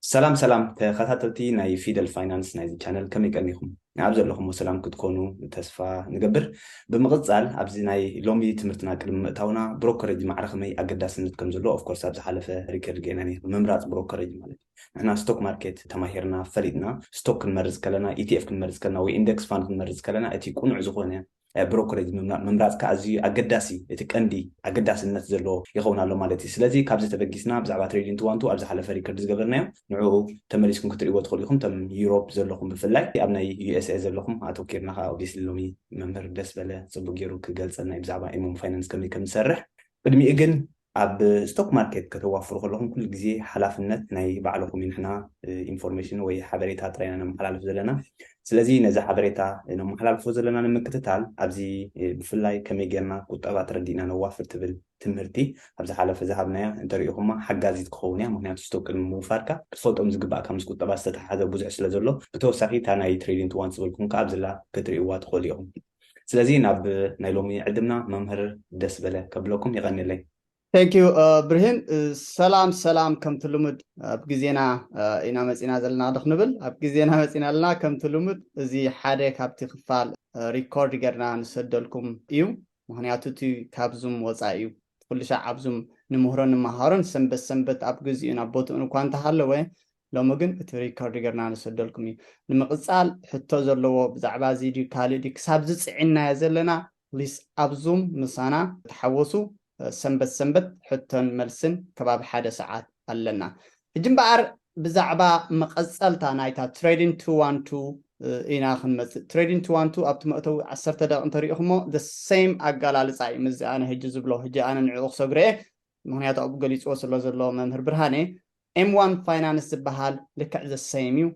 ሰላም ሰላም ተኸታተልቲ ናይ ፊደል ፋይናንስ ናይዚ ቻነል ከመይ ቀኒኹም ኣብ ዘለኹሞ ሰላም ክትኮኑ ተስፋ ንገብር ብምቕጻል ኣብዚ ናይ ሎሚ ትምህርትና ቅድሚ ምእታውና ብሮከረጅ ማዕረ ከመይ ኣገዳስነት ከም ዘለዎ ኦፍኮርስ ኣብ ዝሓለፈ ሪከርድ ገይና ነይሩ ምምራጽ ብሮከረጅ ማለት እዩ ንሕና ስቶክ ማርኬት ተማሂርና ፈሊጥና ስቶክ ክንመርጽ ከለና ኢቲኤፍ ክንመርጽ ከለና ወይ ኢንደክስ ፋንድ ክንመርጽ ከለና እቲ ቁኑዕ ዝኾነ ብሮኮረጅ ምምራፅካ ኣዝዩ ኣገዳሲ እቲ ቀንዲ ኣገዳስነት ዘለዎ ይኸውን ኣሎ ማለት እዩ። ስለዚ ካብዚ ተበጊስና ብዛዕባ ትሬዲንግ ትዋንቱ ኣብ ዝሓለፈ ሪከርድ ዝገበርናዮ ንዕኡ ተመሊስኩም ክትሪእዎ ትኽእሉ ኢኹም እቶም ዩሮፕ ዘለኹም ብፍላይ ኣብ ናይ USA ዘለኹም ኣተኪርና ከኣ ኦብቪየስሊ ሎሚ መምህር ደስበለ ፅቡቅ ገይሩ ክገልፀልና እዩ ብዛዕባ ኤምም ፋይናንስ ከመይ ከምዝሰርሕ ቅድሚኡ ግን ኣብ ስቶክ ማርኬት ከተዋፍሩ ከለኹም ኩሉ ግዜ ሓላፍነት ናይ ባዕልኹም እዩ ንሕና ኢንፎርሜሽን ወይ ሓበሬታ ጥራይ ኢና ነመሓላልፍ ዘለና ስለዚ ነዚ ሓበሬታ ነመሓላልፎ ዘለና ንምክትታል ኣብዚ ብፍላይ ከመይ ጌርና ቁጠባ ተረዲእና ነዋፍር ትብል ትምህርቲ ኣብ ዝሓለፈ ዝሃብናያ እንተሪኢኹማ ሓጋዚት ክኸውን እያ ምኽንያቱ ስቶክ ቅድሚ ምውፋርካ ክትፈልጦም ዝግባእካ ምስ ቁጠባ ዝተተሓሓዘ ብዙሕ ስለዘሎ ብተወሳኺ እታ ናይ ትሬዲንግ ቱ ዋንስ ዝበልኩም ከኣ ኣብዝላ ክትሪእዋ ትኽእሉ ኢኹም። ስለዚ ናብ ናይ ሎሚ ዕድምና መምህር ደስበለ ከብለኩም የቀንየለይ። Thank you ብርሂን ሰላም ሰላም ከምቲ ልሙድ ኣብ ግዜና ኢና መጺና ዘለና ዶ ክንብል ኣብ ግዜና መጺና ኣለና ከምቲ ልሙድ እዚ ሓደ ካብቲ ክፋል ሪኮርድ ጌርና ንሰደልኩም እዩ ምክንያቱ እቲ ካብ ዙም ወጻኢ እዩ ኩሉ ሻዕ ኣብ ዙም ንምህሮን ንመሃሮን ሰንበት ሰንበት ኣብ ግዚኡን ኣብ ቦትኡን እኳ እንተሃለወ ሎሚ ግን እቲ ሪከርድ ገርና ንሰደልኩም እዩ ንምቅጻል ሕቶ ዘለዎ ብዛዕባ እዚ ድዩ ካልእ ድዩ ክሳብ እዚ ጽዒናዮ ዘለና please ኣብ zoom ምሳና ተሓወሱ ሰንበት ሰንበት ሕቶን መልስን ከባቢ ሓደ ሰዓት ኣለና ሕጂ እምበኣር ብዛዕባ መቐጸልታ ናይታ ትሬዲን ቱ ዋን ቱ ኢና ክንመጽእ ትሬዲን ቱ ዋን ቱ ኣብቲ መእተዊ ዓሰርተ ደቂ እንተሪኢኹሞ the same ኣገላልጻ እዩ ምስዚ ኣነ ህጂ ዝብሎ ህጂ ኣነ ንዕኡ ክሰግሮ እየ ምክንያቱ ኣብኡ ገሊፅዎ ስለ ዘሎ መምህር ብርሃነ ኤም ዋን ፋይናንስ ዝበሃል ልክዕ ዘሰይም እዩ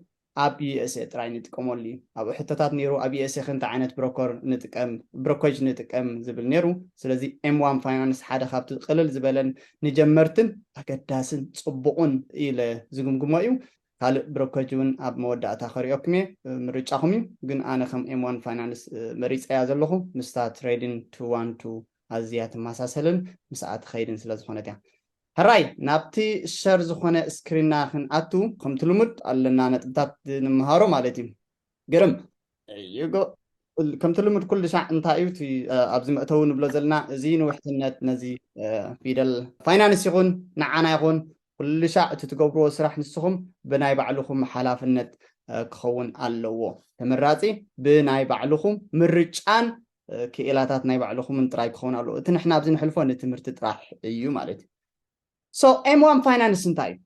ኣብ ዩኤስኤ ጥራይ ንጥቀመሉ እዩ ኣብኡ ሕቶታት ነይሩ ኣብ ዩኤስኤ ክንታይ ዓይነት ብሮኮር ንጥቀም ብሮኮጅ ንጥቀም ዝብል ነይሩ ስለዚ ኤም ዋን ፋይናንስ ሓደ ካብቲ ቅልል ዝበለን ንጀመርትን ኣገዳስን ፅቡቕን ኢለ ዝግምግሞ እዩ ካልእ ብሮኮጅ እውን ኣብ መወዳእታ ከሪኦኩም እየ ምርጫኹም እዩ ግን ኣነ ከም ኤም ዋን ፋይናንስ መሪፀያ ዘለኹ ምስታ ትሬድን ቱ ዋን ቱ ኣዝያ ትመሳሰልን ምስኣ ትኸይድን ስለ ዝኾነት እያ። ሕራይ ናብቲ ሸር ዝኾነ ስክሪንና ክንኣቱ ከምቲ ልሙድ ኣለና ነጥብታት ንምሃሮ ማለት እዩ። ግርም ይጎ ከምቲ ልሙድ ኩሉ ሻዕ እንታይ እዩ እቲ ኣብዚ መእተዊ ንብሎ ዘለና እዚ ንውሕስነት ነዚ ፊደል ፋይናንስ ይኹን ንዓና ይኹን ኩሉ ሻዕ እቲ ትገብርዎ ስራሕ ንስኹም ብናይ ባዕልኹም ሓላፍነት ክኸውን ኣለዎ። ተመራጺ ብናይ ባዕልኹም ምርጫን ክኢላታት ናይ ባዕልኹምን ጥራይ ክኸውን ኣለዎ እቲ ንሕና ኣብዚ ንሕልፎ ንትምህርቲ ጥራሕ እዩ ማለት እዩ ሶ ኤም ዋን ፋይናንስ እንታይ እዩ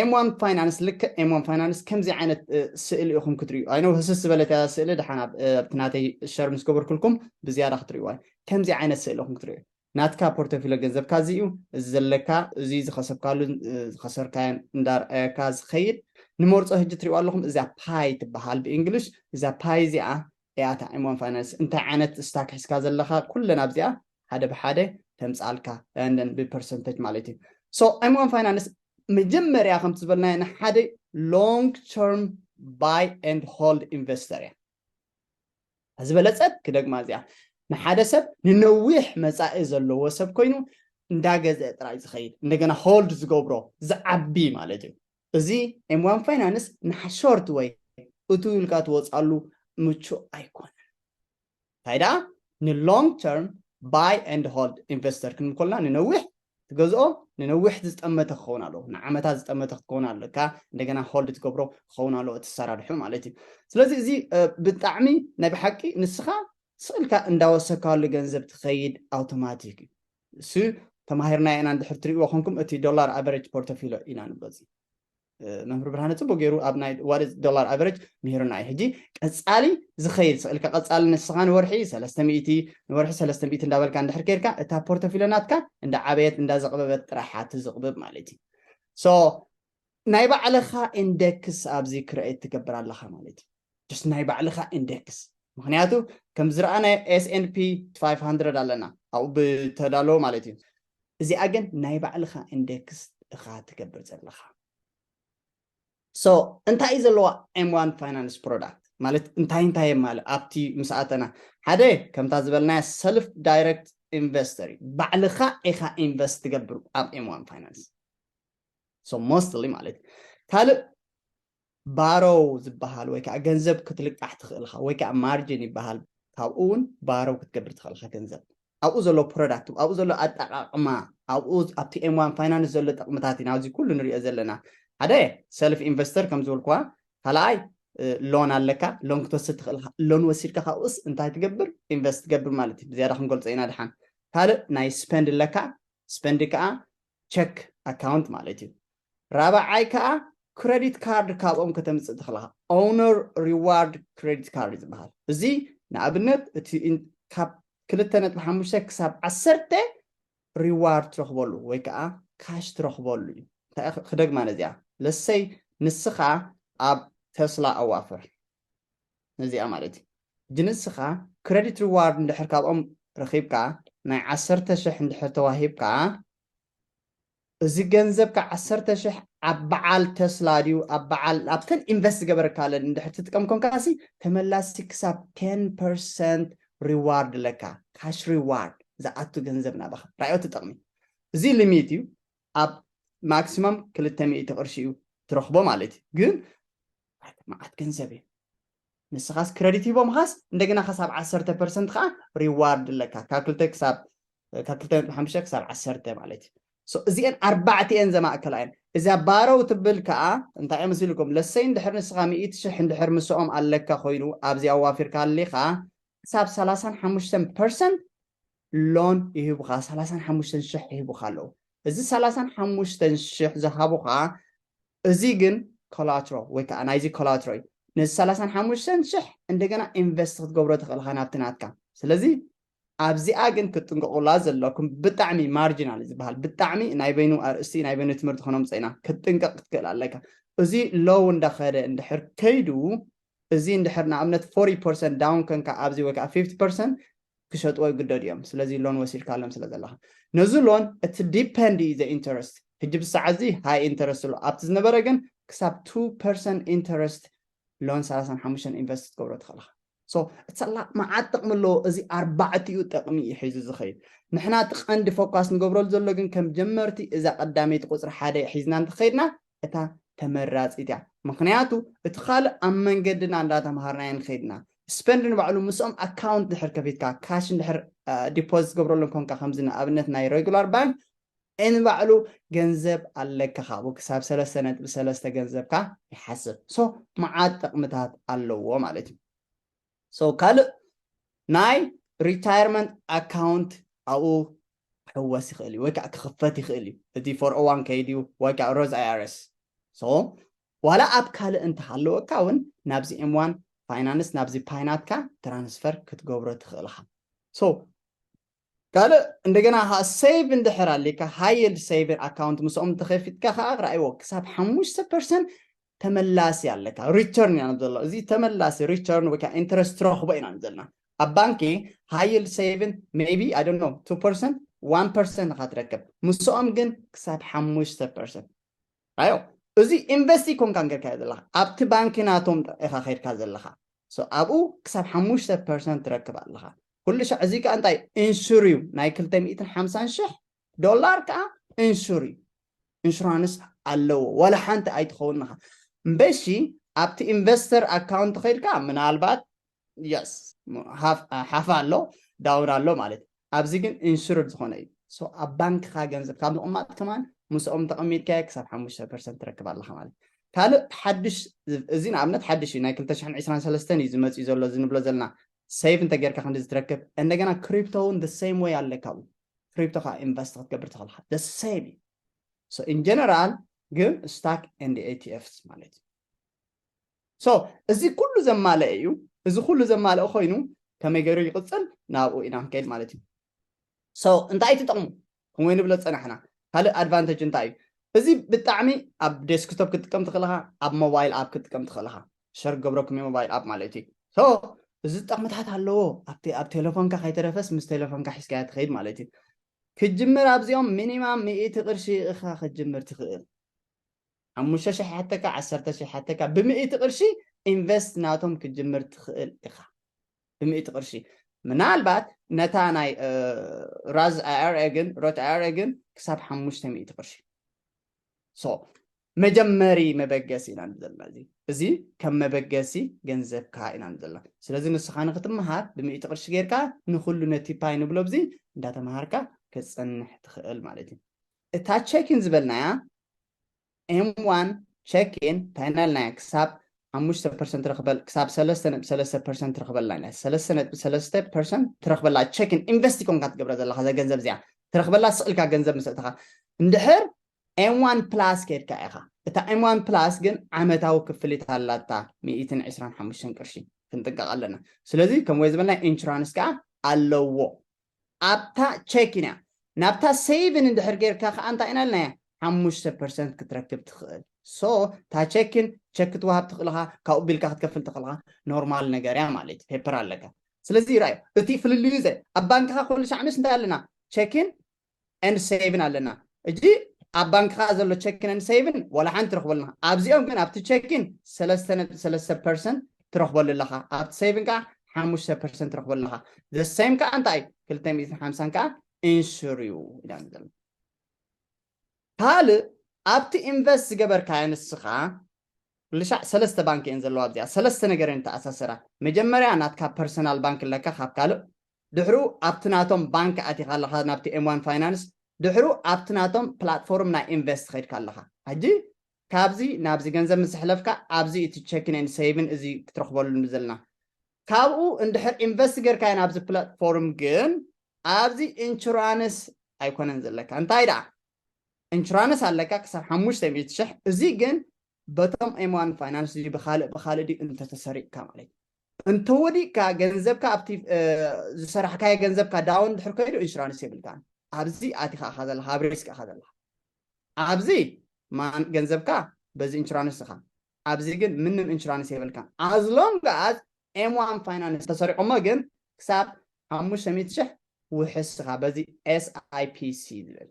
ኤም ዋን ፋይናንስ ልክዕ ኤም ዋን ፋይናንስ ከምዚ ዓይነት ስእሊ ኢኹም ክትሪኡ ኣይነ ህስስ ዝበለት እያ ስእሊ ድሓን ኣብቲ ናተይ ሸር ምስ ገበርኩልኩም ብዝያዳ ክትሪእዋ ከምዚ ዓይነት ስእሊ ኢኹም ክትሪኡ ናትካ ፖርተፊሎ ገንዘብካ እዚ እዩ፣ እዚ ዘለካ እዙይ ዝኸሰብካሉን ዝኸሰርካዮን እንዳርኣየካ ዝኸይድ ንመርፆ ህጂ ትሪእዋ ኣለኹም እዚኣ ፓይ ትበሃል ብእንግሊሽ እዛ ፓይ እዚኣ እያ እታ ዒምዋን ፋይናንስ እንታይ ዓይነት ስታክ ሒዝካ ዘለኻ ኩለን ኣብዚኣ ሓደ ብሓደ ተምፅኣልካ እንደን ብፐርሰንተጅ ማለት እዩ ሶ ዒምዋን ፋይናንስ መጀመርያ ከምቲ ዝበልናዮ ንሓደ ሎንግ ተርም ባይ ኤንድ ሆልድ ኢንቨስተር እያ ዝበለፀት ክደግማ እዚኣ ንሓደ ሰብ ንነዊሕ መፃኢ ዘለዎ ሰብ ኮይኑ እንዳገዝአ ጥራይ ዝኸይድ እንደገና ሆልድ ዝገብሮ ዝዓቢ ማለት እዩ እዚ ኤምዋን ፋይናንስ ንሓሾርት ወይ እቱ ኢልካ ትወፃሉ ምቹእ ኣይኮነን እንታይ ደኣ ንሎንግ ተርም ባይ ኤንድ ሆልድ ኢንቨስተር ክንብል ኮልና ንነዊሕ ትገዝኦ ንነዊሕ ዝጠመተ ክኸውን ኣለዎ ንዓመታት ዝጠመተ ክትከውን ኣለካ እንደገና ሆልድ ትገብሮ ክኸውን ኣለዎ እቲ ሰራርሑ ማለት እዩ ስለዚ እዚ ብጣዕሚ ናይ ብሓቂ ንስኻ ስእልካ እንዳወሰካሉ ገንዘብ ትኸይድ ኣውቶማቲክ እዩ እሱ ተማሂርና ኢና እንድሕር ትሪእዎ ኮንኩም እቲ ዶላር ኣቨሬጅ ፖርቶፊሎ ኢና ንብሎ እዚ መምህር ብርሃነ ፅቡቅ ገይሩ ኣብ ናይ ዋት ዶላር ኣቨረጅ ምሂሩና እዩ ሕጂ ቀፃሊ ዝኸይድ ስእልካ ቀፃሊ ንስኻ ንወርሒ ሰለስተ ሚእቲ ንወርሒ ሰለስተ ሚእቲ እንዳበልካ እንድሕር ከይድካ እታ ፖርቶፊሎ ናትካ እንዳ ዓበየት እንዳ ዘቕበበት ጥራሕ ኣቲ ዝቕብብ ማለት እዩ ሶ ናይ ባዕልኻ ኢንደክስ ኣብዚ ክርኤት ትገብር ኣለኻ ማለት እዩ ጀስት ናይ ባዕልኻ ኢንደክስ ምክንያቱ ከም ዝረኣናዮ ኤስኤንፒ 500 ኣለና ኣብኡ ብተዳለዎ ማለት እዩ እዚኣ ግን ናይ ባዕልኻ ኢንደክስ እኻ ትገብር ዘለኻ ሶ እንታይ እዩ ዘለዋ ኤምዋን ፋይናንስ ፕሮዳክት ማለት እንታይ እንታይ የማልእ ኣብቲ ምስ ኣተና ሓደ ከምታ ዝበልናያ ሰልፍ ዳይረክት ኢንቨስተር እዩ ባዕልኻ ኢኻ ኢንቨስት ትገብር ኣብ ኤምዋን ፋይናንስ ሶ ሞስትሊ ማለት ካልእ ባሮው ዝበሃል ወይ ከዓ ገንዘብ ክትልቃሕ ትኽእል ኢኻ ወይ ከዓ ማርጅን ይበሃል ካብኡ እውን ባሮው ክትገብር ትኽእል ኢኻ ገንዘብ ኣብኡ ዘሎ ፕሮዳክት ኣብኡ ዘሎ ኣጠቃቅማ ኣብኡ ኣብቲ ኤም ዋን ፋይናንስ ዘሎ ጥቅምታት ኢና ኣብዚ ኩሉ ንሪኦ ዘለና ሓደ ሰልፍ ኢንቨስተር ከም ዝበልኩዋ ካልኣይ ሎን ኣለካ ሎን ክትወስድ ትኽእል ኢኻ ሎን ወሲድካ ካብኡስ እንታይ ትገብር ኢንቨስት ትገብር ማለት እዩ ብዝያዳ ክንገልፆ ኢና ድሓን ካልእ ናይ ስፐንድ ኣለካ ስፐንድ ከዓ ቸክ ኣካውንት ማለት እዩ። ራብዓይ ከዓ ክረዲት ካርድ ካብኦም ከተምፅእ ትኽእልኻ ኦውነር ሪዋርድ ክረዲት ካርድ ዝበሃል እዚ ንኣብነት እቲ ካብ ክልተ ነጥቢ ሓሙሽተ ክሳብ ዓሰርተ ሪዋርድ ትረኽበሉ ወይ ከዓ ካሽ ትረኽበሉ እዩ እንታይ ክደግማ ነዚኣ ለሰይ ንስኻ ኣብ ተስላ ኣዋፍር ነዚኣ ማለት እዩ ጅንስኻ ክረዲት ሪዋርድ እንድሕር ካብኦም ረኺብካ ናይ ዓሰርተ ሽሕ እንድሕር ተዋሂብካ እዚ ገንዘብካ ዓሰርተ ሽሕ ኣብ በዓል ተስላ ድዩ ኣብ በዓል ኣብተን ኢንቨስት ዝገበረካለን እንድሕር ትጥቀም ኮንካሲ ተመላሲ ክሳብ 10 ፐርሰንት ሪዋርድ ኣለካ ካሽ ሪዋርድ ዝኣቱ ገንዘብ ናባኻ ራዮ ትጠቕሚ እዚ ሊሚት እዩ ኣብ ማክሲመም ክልተ ሚእቲ ቅርሺ እዩ ትረኽቦ ማለት እዩ ግን መዓት ገንዘብ እዩ ንስኻስ ክረዲት ሂቦምኻስ እንደገና ክሳብ ዓሰርተ ፐርሰንት ከዓ ሪዋርድ ኣለካ ካብ ክልተ ክሳብ ካብ ክልተ ነጥቢ ሓሙሽተ ክሳብ ዓሰርተ ማለት እዩ እዚአን ኣርባዕቲኤን ዘማእከላ እየን እዛ ባሮው ትብል ከዓ እንታይ እዮም ሲልኩም ለሰይ እንድሕር ንስኻ ሚእቲ ሽሕ እንድሕር ምስኦም ኣለካ ኮይኑ ኣብዚ ኣዋፊርካ ኣሊኻ ክሳብ ሰላሳን ሓሙሽተን ፐርሰንት ሎን ይህቡኻ ሰላሳን ሓሙሽተን ሽሕ ይህቡኻ ኣለው እዚ ሰላሳን ሓሙሽተን ሽሕ ዝሃቡኻ እዚ ግን ኮላትሮ ወይ ከዓ ናይዚ ኮላትሮ እዩ ነዚ ሰላሳን ሓሙሽተን ሽሕ እንደገና ኢንቨስት ክትገብሮ ትኽእል ኢኻ ናብቲ ናትካ ስለዚ ኣብዚኣ ግን ክትጥንቀቑላ ዘለኩም ብጣዕሚ ማርጂናል እዩ ዝበሃል ብጣዕሚ ናይ በይኑ ኣርእስቲ ናይ በይኑ ትምህርቲ ክነምፀ ኢና ክትጥንቀቕ ክትክእል ኣለካ እዚ ሎው እንዳኸደ እንድሕር ከይዱ እዚ እንድሕር ንኣብነት ፎርቲ ፐርሰንት ዳውን ኮንካ ኣብዚ ወይ ከዓ ፊፍቲ ፐርሰንት ክሸጥዎ ይግደዱ እዮም ስለዚ ሎን ወሲድካሎም ስለ ዘለኻ ነዚ ሎን እቲ ዲፐንድ እዩ ዘ ኢንተረስት ሕጂ ብሰዓት እዚ ሃይ ኢንተረስት ኣሎ ኣብቲ ዝነበረ ግን ክሳብ ቱ ፐርሰንት ኢንተረስት ሎን ሰላሳን ሓሙሽተን ኢንቨስት ክትገብሮ ትኽእል ኢኻ ሶ እትላ መዓት ጥቕሚ ኣለዎ እዚ ኣርባዕቲኡ ጥቕሚ እዩ ሒዙ ዝኸይድ ንሕና እቲ ቀንዲ ፎካስ ንገብረሉ ዘሎ ግን ከም ጀመርቲ እዛ ቀዳመይቲ ቁፅሪ ሓደ ሒዝና እንተኸይድና እታ ተመራጺት እያ ምኽንያቱ እቲ ካልእ ኣብ መንገድና እንዳተምሃርና ኢና ከይድና ስፐንድ ንባዕሉ ምስኦም ኣካውንት ድሕር ከፊትካ ካሽ ድሕር ዲፖዚት ትገብረሎም ኮንካ ከምዚ ንኣብነት ናይ ሬጉላር ባንክ እንባዕሉ ገንዘብ ኣለካ ካብኡ ክሳብ ሰለስተ ነጥቢ ሰለስተ ገንዘብካ ይሓስብ ሶ መዓት ጥቕምታት ኣለዎ ማለት እዩ ሶ ካልእ ናይ ሪታይርመንት ኣካውንት ኣብኡ ክሕወስ ይኽእል እዩ ወይ ከዓ ክኽፈት ይኽእል እዩ እቲ ፎር ኦዋን ከይ ድዩ ወይ ከዓ ሮዝ ኣይኣርስ ሶ ዋላ ኣብ ካልእ እንተሃለወካ እውን ናብዚ ኤምዋን ፋይናንስ ናብዚ ፓይናትካ ትራንስፈር ክትገብሮ ትኽእል ኢኻ ሶ ካልእ እንደገና ከዓ ሴቭ እንድሕር ኣሊካ ሃይልድ ሴቨር ኣካውንት ምስኦም እንተከፊትካ ከዓ ራእይዎ ክሳብ ሓሙሽተ ፐርሰንት ተመላሲ ኣለካ ሪተርን ኢና ዘሎ እዚ ተመላሲ ሪተርን ወይ ከዓ ኢንትረስት ትረኽቦ ኢና ዘለና ኣብ ባንኪ ሃይልድ ሴቭን ሜቢ ኣደኖ ቱ ፐርሰንት ዋን ፐርሰንት ኢካ ትረክብ ምስኦም ግን ክሳብ ሓሙሽተ ፐርሰንት ኣዮ እዚ ኢንቨስቲ ኮንካ ንገርካዮ ዘለካ ኣብቲ ባንኪ ናቶም ኢካ ከድካ ዘለካ ኣብኡ ክሳብ ሓሙሽተ ፐርሰንት ትረክብ ኣለካ ኩሉ ሻዕ እዚ ከዓ እንታይ እንሹር እዩ ናይ ክልተ ሚእትን ሓምሳን ሽሕ ዶላር ከዓ እንሹር እዩ ኢንሹራንስ ኣለዎ ዋላ ሓንቲ ኣይትኸውን ኢኻ እምበሺ ኣብቲ ኢንቨስተር ኣካውንት ከይድካ ምናልባት የስ ሓፍ ኣሎ ዳውን ኣሎ ማለት ኣብዚ ግን ኢንሹርድ ዝኾነ እዩ ሶ ኣብ ባንክኻ ገንዘብ ካብ ምቕማጥ ከማን ምስኦም ተቐሚጥካዮ ክሳብ ሓሙሽተ ፐርሰንት ትረክብ ኣለኻ ማለት ካልእ ሓድሽ እዚ ንኣብነት ሓድሽ እዩ ናይ 223 እዩ ዝመፅኡ ዘሎ እዚ ንብሎ ዘለና ሰይቭ እንተጌርካ ክንዲ ዝትረክብ እንደገና ክሪፕቶ እውን the same way ኣለካ እውን ክሪፕቶ ከዓ ኢንቨስት ክትገብር ትኽእል ኢኻ the same እዩ so in general ግን ስታክ and ATFs ማለት እዩ so እዚ ኩሉ ዘማለአ እዩ እዚ ኩሉ ዘማለአ ኮይኑ ከመይ ገይሩ ይቕፅል ናብኡ ኢና ክንከይድ ማለት እዩ so እንታይ ትጠቕሙ ከምኡ ንብሎ ዝጸናሕና። ካልእ ኣድቫንተጅ እንታይ እዩ? እዚ ብጣዕሚ ኣብ ዴስክቶፕ ክትጥቀም ትኽእል ኢኻ፣ ኣብ ሞባይል ኣፕ ክትጥቀም ትኽእል ኢኻ። ሸር ክገብረኩም እየ ሞባይል ኣፕ ማለት እዩ። ሶ እዚ ጠቕምታት ኣለዎ። ኣብቲ ኣብ ቴለፎንካ ከይተረፈስ ምስ ቴለፎንካ ሒዝካያ ትኸይድ ማለት እዩ። ክትጅምር ኣብዚኦም ሚኒማም ሚእቲ ቅርሺ ኢኻ ክትጅምር ትኽእል። ሓሙሽተ ሽሕ ይሓተካ፣ ዓሰርተ ሽሕ ይሓተካ፣ ብሚእቲ ቅርሺ ኢንቨስት ናቶም ክትጅምር ትኽእል ኢኻ። ብምእቲ ቅርሺ ምናልባት ነታ ናይ ራዝ ኣያርኤ ግን ሮት ኣያርኤ ግን ክሳብ ሓሙሽተ ሚእቲ ቅርሺ ሶ መጀመሪ መበገሲ ኢና ዘለና እዚ እዚ ከም መበገሲ ገንዘብካ ኢና ዘለና ስለዚ ንስኻ ንክትመሃር ብምእቲ ቅርሺ ጌርካ ንኩሉ ነቲ ፓይ ንብሎ ብዚ እንዳተምሃርካ ክትፀንሕ ትኽእል ማለት እዩ እታ ቸኪን ዝበልናያ ኤምዋን ቸክኢን ፓይናል ናይ ክሳብ ሓሙሽተ ፐርሰንት ረክበል ክሳብ ሰለስተ ነጥቢ ሰለስተ ፐርሰንት ትረክበላ ኢላ ሰለስተ ነጥቢ ሰለስተ ፐርሰንት ትረክበላ ቸክን ኢንቨስት ኮንካ ትገብረ ዘለካ እዛ ገንዘብ እዚኣ ትረክበላ ስቅልካ ገንዘብ ምስ እተኻ እንድሕር ኤምዋን ፕላስ ከድካ ኢኻ እታ ኤምዋን ፕላስ ግን ዓመታዊ ክፍሊት ኣላታ ሚእትን ዕስራን ሓሙሽተን ቅርሺ ክንጥንቀቕ ኣለና ስለዚ ከም ወይ ዝበልና ኢንሹራንስ ከዓ ኣለዎ ኣብታ ቸኪን እያ ናብታ ሰይቭን እንድሕር ጌርካ ከዓ እንታይ ኢና ኢልና እያ ሓሙሽተ ፐርሰንት ክትረክብ ትኽእል ሶ እታ ቸኪን ቸክ ክትወሃብ ትኽእል ኢኻ ካብኡ ቢልካ ክትከፍል ትኽእል ኢኻ ኖርማል ነገር እያ ማለት እዩ ፔፐር ኣለካ ስለዚ ይርኣዩ እቲ ፍልልዩ ዘ ኣብ ባንክኻ ኩሉ ሻዕ ምስ እንታይ ኣለና ቸኪን ኤንድ ሰይቭን ኣለና እጂ ኣብ ባንክኻ ዘሎ ቸክን ኤንድ ሰይቭን ዋላ ሓንቲ ትረኽበልና ኣብዚኦም ግን ኣብቲ ቸኪን ሰለስተ ነጥቢ ሰለስተ ፐርሰንት ትረኽበሉ ኣለኻ ኣብቲ ሰይቭን ከዓ ሓሙሽተ ፐርሰንት ትረኽበሉ ኣለኻ ዘሰይም ከዓ እንታይ እዩ ክልተ ሚእትን ሓምሳን ከዓ ኢንሹር እዩ ኢላኒ ዘሎ ካልእ ኣብቲ ኢንቨስት ዝገበርካዮ ንስኻ ልሻዕ ሰለስተ ባንክ እየን ዘለዋ ኣብዚኣ ሰለስተ ነገር እየን ተኣሳሰራ መጀመርያ ናትካ ፐርሰናል ባንክ ኣለካ ካብ ካልእ ድሕሩ ኣብቲ ናቶም ባንክ ኣቲካ ኣለካ ናብቲ ኤም ዋን ፋይናንስ ድሕሩ ኣብቲ ናቶም ፕላትፎርም ናይ ኢንቨስት ከድካ ኣለካ ሀጂ ካብዚ ናብዚ ገንዘብ ምስ ኣሕለፍካ ኣብዚ እዩ እቲ ቸክን ኤንድ ሰይቭን እዚ ክትረክበሉ ዘለና ካብኡ እንድሕር ኢንቨስት ገርካዮ ናብዚ ፕላትፎርም ግን ኣብዚ ኢንሹራንስ ኣይኮነን ዘለካ እንታይ ደኣ ኢንሹራንስ ኣለካ ክሳብ ሓሙሽተ ሚእቲ ሽሕ እዚ ግን በቶም ኤምዋን ፋይናንስ ድዩ ብካልእ ብካልእ ድዩ እንተተሰሪቅካ ማለት እዩ እንተወዲቅካ ገንዘብካ ኣብቲ ዝሰራሕካዮ ገንዘብካ ዳውን ድሕር ከይዱ ኢንሹራንስ የብልካን ኣብዚ ኣቲኻ ኢኻ ዘለካ ኣብ ሪስክ ኢኻ ዘለካ ኣብዚ ማን ገንዘብካ በዚ ኢንሹራንስ ኢኻ ኣብዚ ግን ምንም ኢንሹራንስ የብልካን ኣዝሎንግ ኣዝ ኤምዋን ፋይናንስ ተሰሪቑሞ ግን ክሳብ ሓሙሽተ ሚእቲ ሽሕ ውሕስ ኢኻ በዚ ኤስኣይፒሲ ዝብል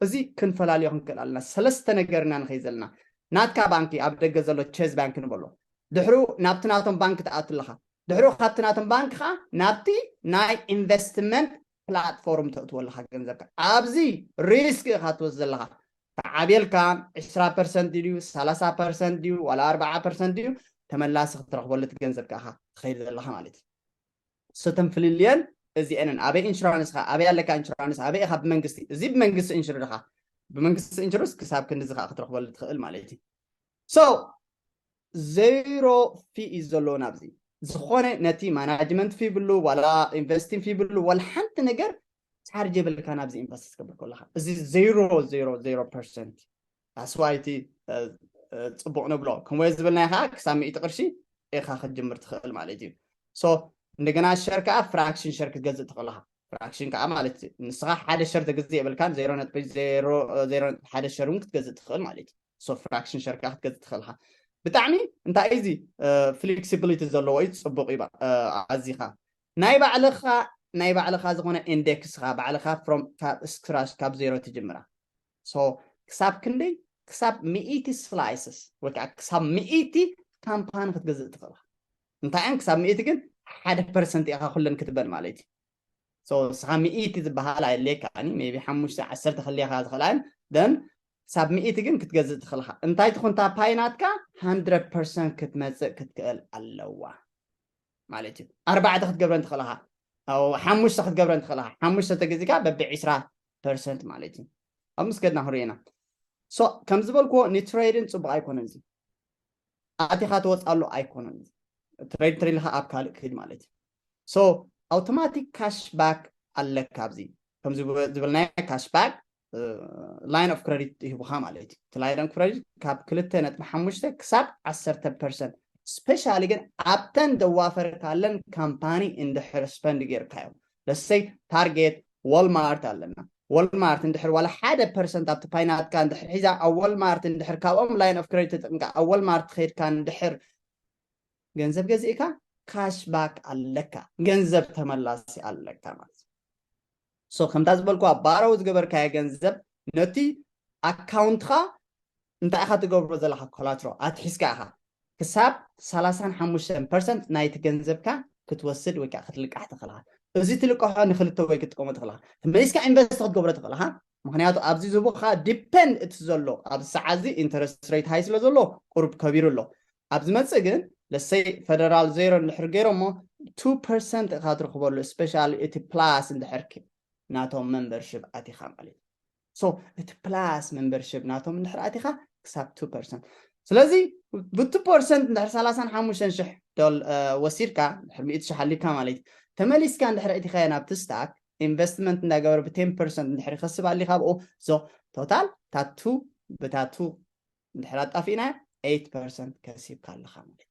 እዚ ክንፈላልዮ ክንክእል ኣለና ሰለስተ ነገር ኢና ንኸይ ዘለና ናትካ ባንኪ ኣብ ደገ ዘሎ ቸዝ ባንኪ ንበሎ ድሕሩ ናብቲ ናቶም ባንኪ ትኣቱ ኣለኻ ድሕሩ ካብቲ ናቶም ባንኪ ከዓ ናብቲ ናይ ኢንቨስትመንት ፕላትፎርም ተእትዎ ኣለኻ ገንዘብካ ኣብዚ ሪስክ ኢኻ ትወስድ ዘለኻ ተዓብየልካ 20 ፐርሰንት ድዩ 30 ፐርሰንት ድዩ ዋላ 40 ፐርሰንት ድዩ ተመላሲ ክትረኽበሉ እቲ ገንዘብካ ኢኻ ትኸይድ ዘለኻ ማለት እዩ ሰተን ፍልልየን እዚኤንን ኣበይ ኢንሹራንስ ኢኻ ኣበይ ኣለካ ኢንሹራንስ ኣበይ ኢኻ ብመንግስቲ እዚ ብመንግስቲ ኢንሹር ኢኻ ብመንግስቲ ኢንሹርስ ክሳብ ክንዲዚ ከዓ ክትረኽበሉ ትኽእል ማለት እዩ ሶ ዜሮ ፊ እዩ ዘለዎን ኣብዚ ዝኾነ ነቲ ማናጅመንት ፊ ብሉ ዋላ ኢንቨስቲን ፊ ብሉ ዋላ ሓንቲ ነገር ቻርጅ የብልካ ናብዚ ኢንቨስት ክትገብር ከለካ እዚ ዜሮ ዜሮ ዜሮ ፐርሰንት ኣስዋይ እቲ ፅቡቅ ንብሎ ከምኡ ዝብልናዮ ከዓ ክሳብ ሚእቲ ቅርሺ ኢካ ክትጅምር ትክእል ማለት እዩ ሶ እንደገና ሸር ከዓ ፍራክሽን ሸር ክትገዝእ ትክእል ኢካ ፍራክሽን ከዓ ማለት እዩ ንስካ ሓደ ሸር ተግዝእ የብልካን ዜሮ ነጥቢ ዜሮ ዜሮ ነጥቢ ሓደ ሸር እውን ክትገዝእ ትክእል ማለት እዩ ሶ ፍራክሽን ሸር ከዓ ክትገዝእ ትክእል ኢካ ብጣዕሚ እንታይ እዩ እዚ ፍሌክሲቢሊቲ ዘለዎ እዩ ፅቡቅ እዩ ኣዚካ ናይ ባዕልካ ናይ ባዕልካ ዝኮነ ኢንዴክስካ ባዕልካ ፍሮም ካብ ስክራሽ ካብ ዜሮ ትጅምራ ሶ ክሳብ ክንደይ ክሳብ ሚእቲ ስላይስስ ወይ ከዓ ክሳብ ሚእቲ ካምፓኒ ክትገዝእ ትኽእል ኢኻ እንታይ እየን ክሳብ ሚእቲ ግን ሓደ ፐርሰንት ኢኻ ኩለን ክትበል ማለት እዩ ሶ ንስኻ ሚእቲ ዝበሃል ኣየድልየካኒ ሜቢ ሓሙሽተ ዓሰርተ ክልኻ ዝኽእላ እየን ደን ክሳብ ሚእቲ ግን ክትገዝእ ትኽእል ኢኻ እንታይ ትኹን እታ ፓይ ናትካ ሃንድረድ ፐርሰንት ክትመፅእ ክትክእል ኣለዋ ማለት እዩ ኣርባዕተ ክትገብረን ትኽእል ኢኻ ሓሙሽተ ክትገብረን ትኽእል ኢኻ ሓሙሽተ ተገዚእካ በቢ ዒስራ ፐርሰንት ማለት እዩ ኣብ ምስ ከድና ክንሪኦ ኢና ሶ ከም ዝበልክዎ ንትሬድን ፅቡቅ ኣይኮነን እዚ ኣቲኻ ተወፅኣሉ ኣይኮነን እዚ ትሬድ ትሪልካ ኣብ ካልእ ክድ ማለት እዩ ሶ ኣውቶማቲክ ካሽ ባክ ኣለካ ኣብዚ ከምዚ ዝበልናዮ ካሽ ባክ ላይን ኦፍ ክረዲት ይህቡካ ማለት እዩ እቲ ላይን ኦፍ ክረዲት ካብ ክልተ ነጥቢ ሓሙሽተ ክሳብ ዓሰርተ ፐርሰንት ስፔሻሊ ግን ኣብተን ዘዋፈርካለን ካምፓኒ እንድሕር ስፐንድ ጌርካዮ ለሰይ ታርጌት ወልማርት ኣለና ወልማርት እንድሕር ዋላ ሓደ ፐርሰንት ኣብቲ ፓይናትካ እንድሕር ሒዛ ኣብ ወልማርት እንድሕር ካብኦም ላይን ኦፍ ክሬዲት ተጠቅምካ ኣብ ወልማርት ከድካ እንድሕር ገንዘብ ገዚእካ ካሽባክ ኣለካ ገንዘብ ተመላሲ ኣለካ ማለት ሶ ከምታ ዝበልኩዋ ባሮው ዝገበርካዮ ገንዘብ ነቲ ኣካውንትካ እንታይ ኢኻ ትገብሮ ዘለኻ ኮላትሮ ኣትሒዝካ ኢኻ ክሳብ ሰላሳን ሓሙሽተን ፐርሰንት ናይቲ ገንዘብካ ክትወስድ ወይ ከዓ ክትልቃሕ ትኽእል ኢኻ። እዚ ትልቅሖ ንክልተ ወይ ክትጥቀሞ ትኽእል ኢኻ። ተመሊስካ ኢንቨስት ክትገብሮ ትኽእል ኢኻ። ምኽንያቱ ኣብዚ ዝህቡኻ ዲፐንድ እቲ ዘሎ ኣብዚ ሰዓት እዚ ኢንተረስት ሬት ሃይ ስለ ዘሎ ቁሩብ ከቢሩ ኣሎ። ኣብ ዝመጽእ ግን ለሰይ ፈደራል ዜሮ እንድሕር ገይሮሞ ቱ ፐርሰንት ኢኻ ትረኽበሉ ስፔሻሊ እቲ ፕላስ እንድሕር ናቶም መምበርሺፕ ኣቲኻ ማለት እዩ። ሶ እቲ ፕላስ መምበርሽፕ ናቶም እንድሕር ኣቲኻ ክሳብ ቱ ፐርሰንት ስለዚ ብቱ ፐርሰንት እንድሕር ሰላሳን ሓሙሽተን ሽሕ ዶል ወሲድካ እንድሕር ሚእቲ ሽሕ ኣሊካ ማለት እዩ ተመሊስካ እንድሕር እቲኻዮ ናብቲ ስታክ ኢንቨስትመንት እንዳገበረ ብቴን ፐርሰንት እንድሕር ይኸስብ ኣሊካ ብኡ ዞ ቶታል ታቱ ብታቱ እንድሕር ኣጣፊእናዮ ኤይት ፐርሰንት ከሲብካ ኣለኻ ማለት እዩ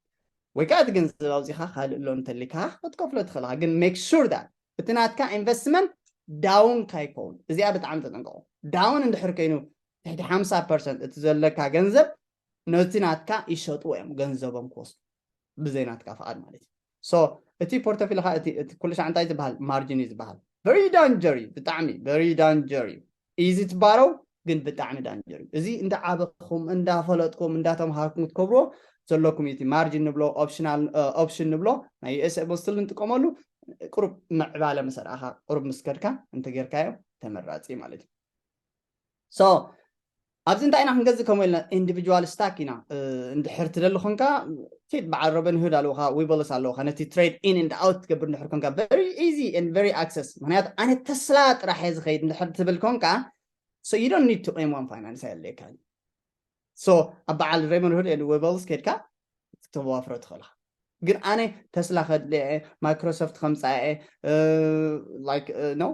ወይ ከዓ እቲ ገንዘብ ኣውፂኻ ካልእ ሎ እንተሊካ ክትከፍሎ ትኽእል ኢኻ ግን ሜክ ሹር ዳት እቲ ናትካ ኢንቨስትመንት ዳውን ካይከውን እዚኣ ብጣዕሚ ተጠንቀቑ ዳውን እንድሕር ኮይኑ ትሕቲ ሓምሳ ፐርሰንት እቲ ዘለካ ገንዘብ ነቲ ናትካ ይሸጥዎ እዮም ገንዘቦም ክወስዱ ብዘይ ናትካ ፍቓድ ማለት እዩ ሶ እቲ ፖርቶፊል ካ እቲ እቲ ኩሉ ሻዕ እንታይ እዩ ዝበሃል ማርጂን እዩ ዝበሃል ቨሪ ዳንጀር እዩ ብጣዕሚ ቨሪ ዳንጀር እዩ ኢዚ ትባረው ግን ብጣዕሚ ዳንጀር እዩ እዚ እንዳዓበኹም እንዳፈለጥኩም እንዳተምሃርኩም ክትከብርዎ ዘለኩም እዩ እቲ ማርጂን ንብሎ ኦፕሽናል ኦፕሽን ንብሎ ናይ ዩኤስኤ ቦስትል ንጥቀመሉ ቅሩብ ምዕባለ ምስ ረኣኻ ቅሩብ ምስ ከድካ እንተጌርካዮ ተመራፂ ማለት እዩ So ኣብዚ እንታይ ኢና ክንገዝእ ከምኡ ኢልና ኢንዲቪጁዋል ስታክ ኢና እንድሕር ትደሊ ኮንካ ፊት በዓል ሮበን ሁድ ኣለውካ ዊበለስ ኣለውካ ነቲ ትሬድ ኢን እንድ ኣውት ትገብር እንድሕር ኮንካ ቨሪ ኢዚ ን ቨሪ ኣክሰስ ምክንያቱ ኣነ ተስላ ጥራሕ እየ ዝኸይድ እንድሕር ትብል ኮንካ ሶ ዩ ዶንት ኒድ ቱ ኦን ፋይናንስ ኣየድልየካ እዩ ሶ ኣብ በዓል ሬሞን ሁድ ኤንድ ዌበልስ ከድካ ክተዋፍሮ ትኽእል ኢኻ ግን ኣነ ተስላ ከድልየ እየ ማይክሮሶፍት ከምፃ እየ ላይክ ኖ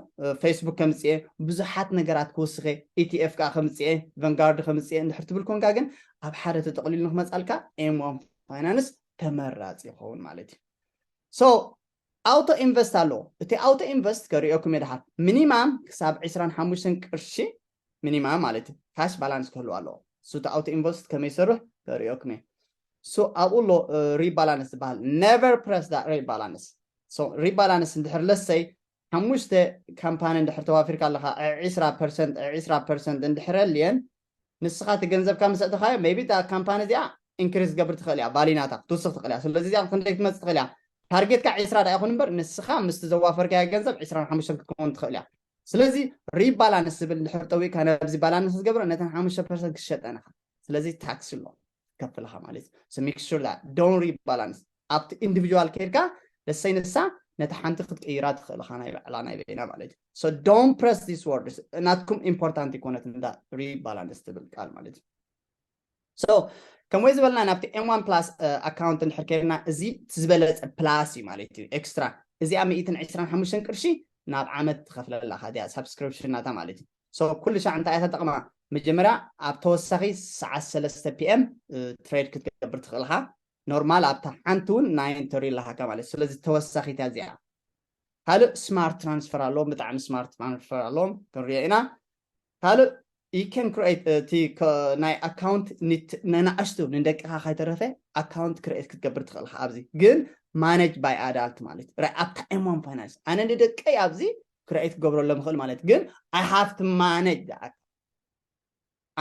ፌስቡክ ከምፅየ ብዙሓት ነገራት ክውስኸ ኢቲኤፍ ከዓ ከምፅየ ቨንጋርድ ከምፅየ እንድሕር ትብል ኮንካ ግን ኣብ ሓደ ተጠቕሊሉ ንክመፃልካ ኤም ዋን ፋይናንስ ተመራፂ ይኸውን ማለት እዩ ሶ ኣውቶ ኢንቨስት ኣለዎ እቲ ኣውቶ ኢንቨስት ከሪኦኩም የድሓር ሚኒማም ክሳብ 25 ቅርሺ ሚኒማ ማለት እዩ ካሽ ባላንስ ክህልዎ ኣለዎ ሱ እቲ ኣውቶ ኢንቮይስ ከመይ ይሰርሕ ከርእየኩም እየ ሶ ኣብኡ ኣሎ ሪባላንስ ዝበሃል ነቨር ፕረስ ዳት ሪባላንስ ሶ ሪባላንስ እንድሕር ለሰይ ሓሙሽተ ካምፓኒ እንድሕር ተዋፊርካ ኣለካ ዕስራ ፐርሰንት ዕስራ ፐርሰንት እንድሕር ኣልየን ንስኻ እቲ ገንዘብካ ምስ ኣእተኻዮ ሜቢ እታ ካምፓኒ እዚኣ ኢንክሪዝ ገብር ትኽእል እያ ቫሊ ናታ ክትውስኽ ትኽእል እያ ስለዚ እዚኣ ክንደይ ክትመፅእ ትኽእል እያ ታርጌትካ ዕስራ ዳ ይኹን እምበር ንስኻ ምስቲ ዘዋፈርካዮ ገንዘብ ዕስራን ሓሙሽተን ክትከውን ትኽእል እያ ስለዚ ሪባላንስ ዝብል ድሕር ጠዊቅካ ነዚ ባላንስ ዝገብረ ነተን ሓሙሽተ ፐርሰንት ክትሸጠን ኢኻ ስለዚ ታክሲ ኣሎ ክትከፍል ኢኻ ማለት እዩ ሶ ሜክ ሹር ዳት ዶን ሪባላንስ ኣብቲ ኢንዲቪጁዋል ከይድካ ደሰይ ንሳ ነቲ ሓንቲ ክትቅይራ ትኽእል ኢኻ ናይ ባዕላ ናይ በይና ማለት እዩ ሶ ዶን ፕረስ ዚስ ወርድስ ናትኩም ኢምፖርታንት ይኮነት እንዳ ሪባላንስ ትብል ቃል ማለት እዩ ሶ ከምወይ ዝበልና ናብቲ ኤም ዋን ፕላስ ኣካውንት እንድሕር ከይድና እዚ እቲ ዝበለፀ ፕላስ እዩ ማለት እዩ ኤክስትራ እዚኣ ሚእትን ዕስራን ሓሙሽተን ቅርሺ ናብ ዓመት ትኸፍለላ እኻ እዚኣ ሳብስክሪፕሽን ናታ ማለት እዩ ሶ ኩሉ ሻዕ እንታይ እያ ተጠቕማ መጀመርያ ኣብ ተወሳኺ ሰዓት ሰለስተ ፒኤም ትሬድ ክትገብር ትኽእል ኢኻ ኖርማል ኣብታ ሓንቲ እውን ናይ ኢንተሪ ኣለሃካ ማለት እዩ ስለዚ ተወሳኺት እያ እዚኣ ካልእ ስማርት ትራንስፈር ኣለዎም ብጣዕሚ ስማርት ትራንስፈር ኣለዎም ክንሪኦ ኢና ካልእ you can create እቲ ናይ ኣካውንት ነናእሽቱ ንደቅኻ ከይተረፈ ኣካውንት ክሬት ክትገብር ትኽእል ኢኻ ኣብዚ ግን ማነጅ ባይ ኣዳልት ማለት እዩ ራይ ኣብታ ኤሞን ፋይናንስ ኣነ ንደቀይ ኣብዚ ክሬት ክገብረሎም ይኽእል ማለት ግን ኣይ ሃቭ ቱ ማነጅ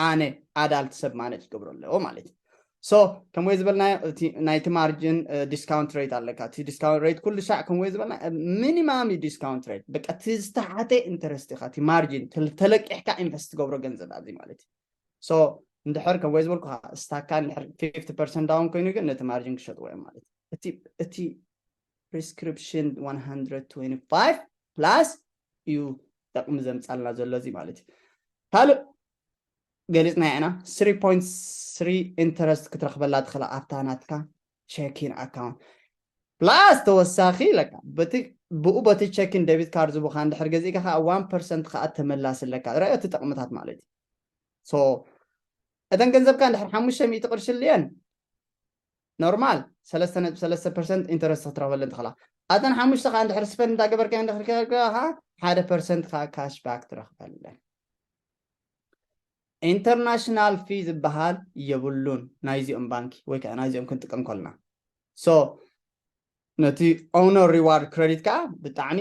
ኣነ ኣዳልት ሰብ ማነጅ ክገብሮ ኣለዎ ማለት እዩ ሶ ከምወይ ዝበልና ናይቲ ማርጅን ዲስካውንት ሬት ኣለካ እቲ ዲስካውንት ሬት ኩሉ ሻዕ ከምወይ ዝበልና ሚኒማም እዩ ዲስካውንት ሬት በቃ እቲ ዝተሓተ ኢንተረስት ኢኻ እቲ ማርጅን ተለቂሕካ ኢንቨስት ትገብሮ ገንዘብ ኣብዚ ማለት እዩ ሶ እንድሕር ከምወይ ዝበልኩ ስታካ እንድሕር ፊፍቲ ፐርሰንት ዳውን ኮይኑ ግን ነቲ ማርጅን ክሸጥዎ እዮም ማለት እዩ እቲ ፕሪስክሪፕሽን 125 ፕላስ እዩ ጥቕሚ ዘምፃልና ዘሎ እዚ ማለት እዩ ካልእ ገሊጽናያ ኢና ስሪ ፖይንት ስሪ ኢንተረስት ክትረክበላ ትኽእላ ኣብታ ናትካ ቸኪን ኣካውንት ፕላስ ተወሳኺ ለካ በቲ ብኡ በቲ ቸኪን ደቢት ካርድ ዝቡካ እንድሕር ገዚእካ ከዓ ዋን ፐርሰንት ከዓ ተመላሲ ኣለካ ረዮ እቲ ጥቕምታት ማለት እዩ ሶ እተን ገንዘብካ እንድሕር ሓሙሽተ ሚእቲ ቅርሺ ልየን ኖርማል ሰለስተ ነጥቢ ሰለስተ ፐርሰንት ኢንተረስት ክትረክበለን ትኽእላ ኣተን ሓሙሽተ ከዓ እንድሕር ስፐንድ እንዳገበርካ እንድሕር ከ ከዓ ሓደ ፐርሰንት ከዓ ካሽ ባክ ትረክበለን ኢንተርናሽናል ፊ ዝበሃል የብሉን ናይዚኦም ባንኪ ወይ ከዓ ናይዚኦም ክንጥቀም ከሎና ሶ ነቲ ኦነር ሪዋርድ ክሬዲት ከዓ ብጣዕሚ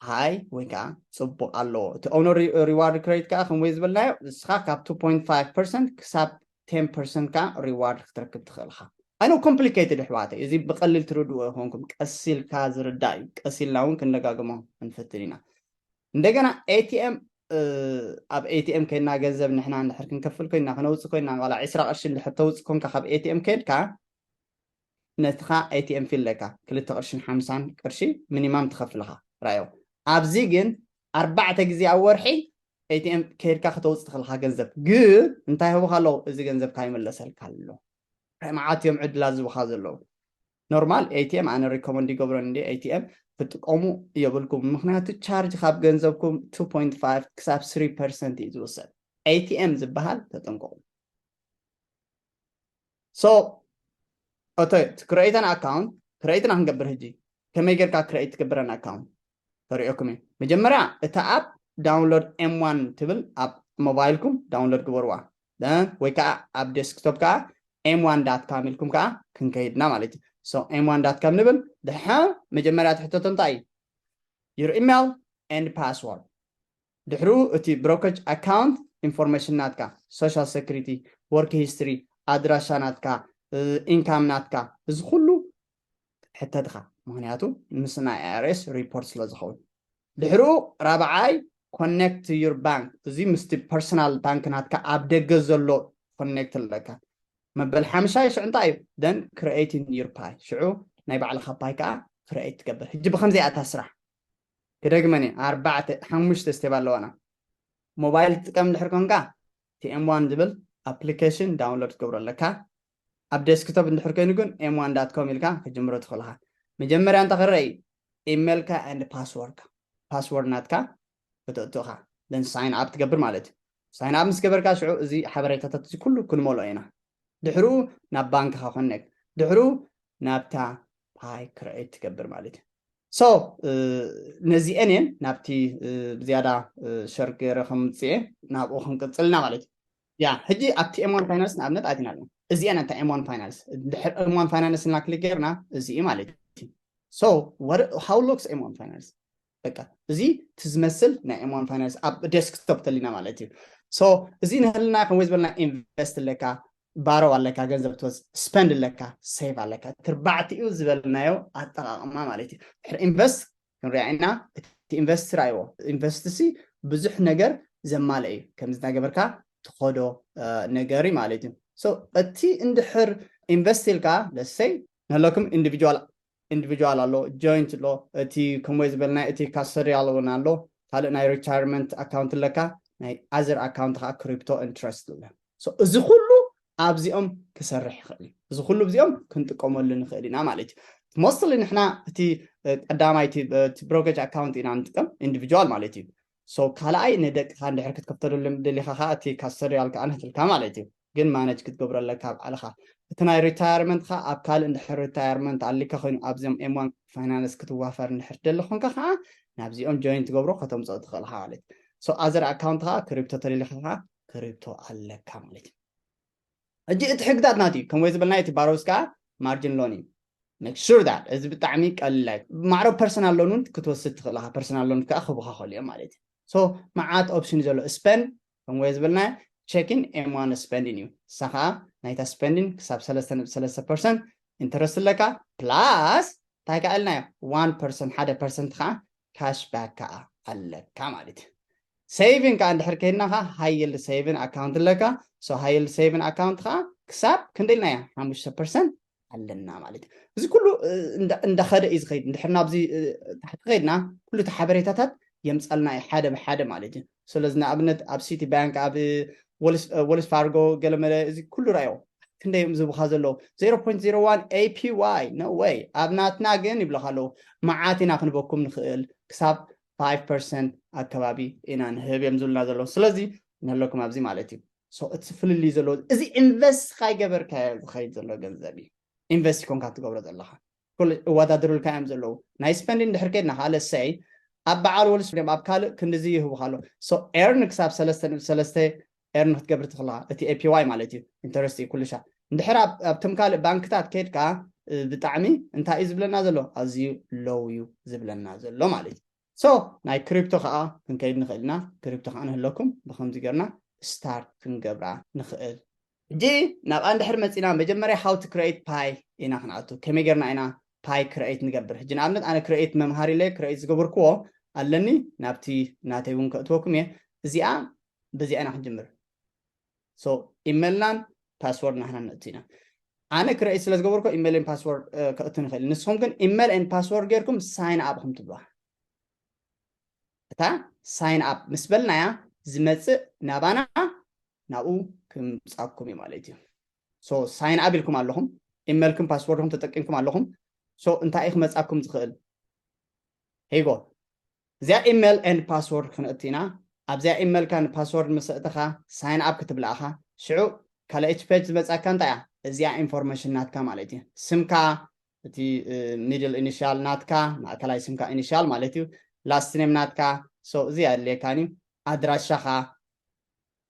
ሃይ ወይ ከዓ ፅቡቅ ኣለዎ እቲ ኦነር ሪዋርድ ክሬዲት ከዓ ከምወይ ዝበልናዮ ንስኻ ካብ 2.5 ፐርሰንት ክሳብ 10 ፐርሰንት ከዓ ሪዋርድ ክትረክብ ትኽእል ኢኻ ኣይኖ ኮምፕሊኬትድ ኣሕዋተይ እዚ ብቀሊል ትርድኡ ይኾንኩም ቀስ ኢልካ ዝርዳእ እዩ ቀስ ኢልና እውን ክንደጋግሞ ንፍትን ኢና እንደገና ATM ኣብ ATM ኮይና ገንዘብ ንሕና እንድሕር ክንከፍል ኮይና ክነውፅእ ኮይና ዋላ ዒስራ ቅርሺ እንድሕር ተውፅእ ኮንካ ካብ ATM ከይድካ ነትኻ ATM fee ኣለካ ክልተ ቅርሽን ሓምሳን ቅርሺ ሚኒማም ትኸፍል ኢኻ ራዮ ኣብዚ ግን ኣርባዕተ ግዜ ኣብ ወርሒ ATM ከይድካ ከተውፅእ ትኽእል ኢኻ ገንዘብ ግን እንታይ ይህቡኻ ኣለዉ እዚ ገንዘብካ ይምለሰልካ ኣሎ መዓት እዮም ዕድላት ዝቡኻ ዘለዉ ኖርማል ኤቲኤም ኣነ ሪኮመንድ ይገብሮ እንዲ ኤቲኤም ክትጥቀሙ የብልኩም ምክንያቱ ቻርጅ ካብ ገንዘብኩም 2.5 ክሳብ 3 ፐርሰንት እዩ ዝውሰድ ኤቲኤም ዝበሃል ተጠንቀቁ ሶ ኦቶ ክሬኤት ኣን ኣካውንት ክሬኤት ኢና ክንገብር ህጂ ከመይ ጌርካ ክሬኤት ትገብረን ኣካውንት ከርእየኩም እየ መጀመርያ እታ ኣፕ ዳውንሎድ ኤምዋን ትብል ኣብ ሞባይልኩም ዳውንሎድ ግበርዋ ወይ ከዓ ኣብ ዴስክቶፕ ከዓ ኤምዋን ዳት ካም ኢልኩም ከዓ ክንከይድና ማለት እዩ ሶ ኤምዋን ዳት ካም ንብል ድሐ መጀመርያ ትሕተቶ እንታይ እዩ ዩር ኢሜል ኤንድ ፓስወርድ ድሕሩ እቲ ብሮከጅ ኣካውንት ኢንፎርሜሽን ናትካ ሶሻል ሴኩሪቲ ወርክ ሂስትሪ ኣድራሻ ናትካ ኢንካም ናትካ እዚ ኩሉ ሕተትኻ ምክንያቱ ምስ ናይ ኣይኣርኤስ ሪፖርት ስለ ዝኸውን ድሕርኡ ራብዓይ ኮኔክት ዩር ባንክ እዚ ምስቲ ፐርሰናል ባንክ ናትካ ኣብ ደገ ዘሎ ኮኔክት ኣለካ መበል ሓምሻይ ሽዑ እንታይ እዩ ደን ክርኤትን ዩር ፓይ ሽዑ ናይ ባዕልኻ ፓይ ከዓ ክርኤት ትገብር ሕጂ ብከምዚኣ እታ ስራሕ ክደግመን እየ ኣርባዕተ ሓሙሽተ ስቴብ ኣለዋና ሞባይል ትጥቀም ድሕር ኮንካ ቲኤም ዋን ዝብል ኣፕሊኬሽን ዳውንሎድ ትገብሮ ኣለካ ኣብ ዴስክቶፕ እንድሕር ኮይኑ ግን ኤም ዋን ዳት ኮም ኢልካ ክትጅምሮ ትኽእል ኢኻ። መጀመርያ እንታይ ክረኣ እዩ ኢሜልካ ኤንድ ፓስወርድካ ፓስወርድ ናትካ ክተእቱ ኢኻ ደን ሳይን ኣፕ ትገብር ማለት እዩ። ሳይን ኣፕ ምስ ገበርካ ሽዑ እዚ ሓበሬታታት እዚ ኩሉ ክንመልኦ ኢና። ድሕርኡ ናብ ባንክኻ ኮኔክት ድሕርኡ ናብታ ፓይ ክርኤት ትገብር ማለት እዩ። ሶ ነዚኤን እየን ናብቲ ብዝያዳ ሸር ገይረ ከምጽእ እየ ናብኡ ክንቅጽል ኢና ማለት እዩ። ያ ሕጂ ኣብቲ ኤም ዋን ፋይናንስ ንኣብነት ኣቲና ኣለና እዚኤን ኣንታ ኤም ዋን ፋይናንስ ድሕር ኤም ዋን ፋይናንስ እና ክሊክ ጌርና እዚ እዩ ማለት እዩ ሶ ሃው ሎክስ ኤም ዋን ፋይናንስ በቃ እዚ ትዝመስል ናይ ኤም ዋን ፋይናንስ ኣብ ዴስክቶፕ ተሊና ማለት እዩ ሶ እዚ ንህልና ከም ወይ ዝበልና ኢንቨስት ኣለካ ባሮ ኣለካ ገንዘብ ትወስ ስፐንድ ኣለካ ሴቭ ኣለካ ትርባዕቲኡ ዝበልናዮ ኣጠቃቅማ ማለት እዩ ድሕሪ ኢንቨስት ክንሪኣ ኢና እቲ ኢንቨስት ራይዎ ኢንቨስት ሲ ብዙሕ ነገር ዘማልእ እዩ ከምዚ እናገበርካ ትኸዶ ነገር እዩ ማለት እዩ ሶ እቲ እንድሕር ኢንቨስት ኢልካ ለሰይ ንህለኩም ኢንዲቪጁዋል ኢንዲቪጁዋል ኣሎ ጆይንት ኣሎ እቲ ከምወይ ዝበልና እቲ ካሰሪያል እውን ኣሎ ካልእ ናይ ሪታይርመንት ኣካውንት ኣለካ ናይ ኣዘር ኣካውንት ከዓ ክሪፕቶ ኢንትረስት ኣለካ እዚ ኩሉ ኣብዚኦም ክሰርሕ ይኽእል እዩ እዚ ኩሉ ኣብዚኦም ክንጥቀመሉ ንኽእል ኢና ማለት እዩ ሞስትሊ ንሕና እቲ ቀዳማይ እቲ ብሮከጅ ኣካውንት ኢና ንጥቀም ኢንዲቪጁዋል ማለት እዩ ሶ ካልኣይ ንደቅኻ እንድሕር ክትከፍተሉልም ደሊኻ ከዓ እቲ ካስተሪያል ከዓ ንህትልካ ማለት እዩ ግን ማነጅ ክትገብሮ ኣለካ ባዕልኻ እቲ ናይ ሪታየርመንት ከዓ ኣብ ካልእ እንድሕር ሪታየርመንት ኣሊካ ኮይኑ ኣብዚኦም ኤምዋን ፋይናንስ ክትዋፈር እንድሕር ደሊ ኮንካ ከዓ ናብዚኦም ጆይን ትገብሮ ከተምፅኦ ትኽእል ማለት እዩ ሶ ኣዘር ኣካውንት ከዓ ክሪፕቶ ተደሊኻ ከዓ ክሪፕቶ ኣለካ ማለት እዩ ሕጂ እቲ ሕግታት ናት እዩ ከምወይ ዝበልናዮ እቲ ባሮስ ከዓ ማርጅን ሎን እዩ ሜክ ሹር ዳት እዚ ብጣዕሚ ቀሊል ኣይ ማዕሮ ፐርሰናል ሎን እውን ክትወስድ ትኽእል ኢኻ ፐርሰናል ሎን ከዓ ክቡካ ክእሉ እዮም ማለት እዩ ሶ መዓት ኦፕሽን ዘሎ ስፐንድ ከምወይ ዝበልና ቸኪን ኤም ዋን ስፐንድን እዩ እሳ ከዓ ናይታ ስፐንድን ክሳብ ሰለስተ ነጥቢ ሰለስተ ፐርሰንት ኢንተረስት ኣለካ ፕላስ እንታይ ከዓ ኢልናዮ ዋን ፐርሰንት ሓደ ፐርሰንት ከዓ ካሽ ባክ ከኣ ኣለካ ማለት እዩ ሰይቪን ከዓ እንድሕር ከይድና ከዓ ሃይልድ ሰይቪን ኣካውንት ኣለካ ሶ ሃይልድ ሰይቪን ኣካውንት ከዓ ክሳብ ክንደይ ኢልና ኢና ሓሙሽተ ፐርሰንት ኣለና ማለት እዩ እዚ ኩሉ እንዳኸደ እዩ ዝኸይድ እንድሕር ናብዚ ታሕቲ ከይድና ኩሉ እቲ ሓበሬታታት የምፀልና እዩ ሓደ ብሓደ ማለት እዩ ስለዚ ንኣብነት ኣብ ሲቲ ባንክ ኣብ ወልስ ፋርጎ ገለመለ እዚ ኩሉ ራዮ ክንደይ እዮም ዝብኻ ዘለዉ 0.01 APY no way ኣብ ናትና ግን ይብለኻ ኣለዉ መዓት ኢና ክንበኩም ንኽእል ክሳብ 5% ኣከባቢ ኢና ንህብ እዮም ዝብልና ዘለዉ ስለዚ ንህለኩም ኣብዚ ማለት እዩ ሶ እቲ ፍልልይ ዘለዎ እዚ ኢንቨስት ካይገበርካዮ ዝኸይድ ዘሎ ገንዘብ እዩ ኢንቨስት ኮንካ ትገብሮ ዘለኻ እኩል እወዳድርልካ እዮም ዘለዉ ናይ ስፐንዲን ድሕር ከድና ከኣ ለሰይ ኣብ በዓል ወልስ ድም ኣብ ካልእ ክንድዚ ይህቡካ ኣሎ ሶ ኤርን ክሳብ ሰለስተ ነጥቢ ሰለስተ ኤርን ክትገብር ትኽልኻ እቲ ኤፒዋይ ማለት እዩ ኢንተረስት እዩ ኩሉሻ እንድሕር ኣብቶም ካልእ ባንክታት ከድካ ብጣዕሚ እንታይ እዩ ዝብለና ዘሎ ኣዝዩ ሎው እዩ ዝብለና ዘሎ ማለት እዩ so ናይ ክሪፕቶ ከኣ ክንከይድ ንክእል ኢና ክሪፕቶ ከኣ ንህለኩም ብከምዚ ገርና start ክንገብራ ንክእል። ሕጂ ናብኣ እንድሕር መጺና መጀመርያ how to create pi ኢና ክንኣቱ ከመይ ገርና ኢና pi create ንገብር ሕጂ ንኣብነት ኣነ create መምሃሪ ኢለ create ዝገበርክዎ ኣለኒ ናብቲ ናተይ ውን ከእትወኩም እየ እዚኣ በዚኣ ኢና ክንጅምር ሶ ኢመልናን ፓስወርድ ናህና ነእቱ ኢና ኣነ ክረኢ ስለ ዝገበርኩ ኢመል ን ፓስወርድ ከእቱ ንኽእል ንስኹም ግን ኢመል ን ፓስወርድ ጌርኩም ሳይን ኣብ ኹም ትብልዋ እታ ሳይን ኣብ ምስ በልናያ ዝመፅእ ናባና ናብኡ ክምፃኩም እዩ ማለት እዩ ሶ ሳይን ኣብ ኢልኩም ኣለኹም ኢመልኩም ፓስወርድኩም ተጠቂምኩም ኣለኹም ሶ እንታይ እዩ ክመፃኩም ዝኽእል ሂጎ እዚኣ ኢመል ኤንድ ፓስወርድ ክንእቱ ኢና ኣብዚኣ ኢመልካ ን ፓስወርድ ምስ እእተኻ ሳይን ኣፕ ክትብል ኣኻ ሽዑ ካልኣይቲ ፔጅ ዝመጻካ እንታይ እያ እዚኣ ኢንፎርመሽን ናትካ ማለት እዩ ስምካ እቲ ሚድል ኢኒሻል ናትካ ማእከላይ ስምካ ኢኒሻል ማለት እዩ ላስት ኔም ናትካ ሶ እዚ ኣድልየካን እዩ ኣድራሻኻ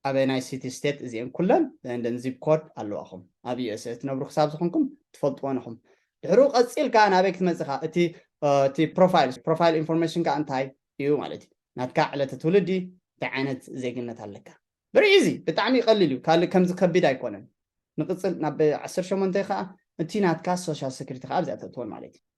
ኣበ ናይ ሲቲ ስቴት እዚኤን ኩለን እንደን ዚፕ ኮድ ኣለዋኹም ኣብ USA ትነብሩ ክሳብ ዝኾንኩም ትፈልጥወን እኹም ድሕሩ ቀጺልካ ናበይ ክትመጽእ ኢኻ እቲ እቲ ፕሮፋይል ፕሮፋይል ኢንፎርሜሽን ከኣ እንታይ እዩ ማለት እዩ ናትካ ዕለተ ትውልዲ እንታይ ዓይነት ዜግነት ኣለካ ቨሪ ኢዚ ብጣዕሚ ቀሊል እዩ ካልእ ከምዚ ከቢድ ኣይኮነን ንቅጽል ናብ 18 ከኣ እቲ ናትካ ሶሻል ሴኩሪቲ ከኣ ኣብዚኣ ተእትወን ማለት እዩ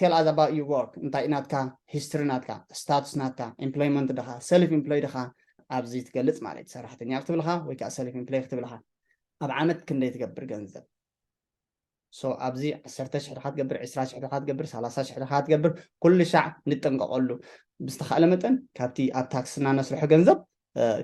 Tell us about your work እንታይ እዩ ናትካ history ናትካ status ናትካ employment ድኻ self employed ድኻ ኣብዚ ትገልጽ ማለት እዩ ሰራሕተኛ ክትብልኻ ወይ ከዓ self employed ክትብልኻ ኣብ ዓመት ክንደይ ትገብር ገንዘብ ሶ ኣብዚ ዓሰርተ ሽሕ ድካ ትገብር ዕስራ ሽሕ ድካ ትገብር ሰላሳ ሽሕ ድካ ትገብር ኩሉ ሻዕ ንጠንቀቀሉ ብዝተካእለ መጠን ካብቲ ኣብ ታክስና ነስርሖ ገንዘብ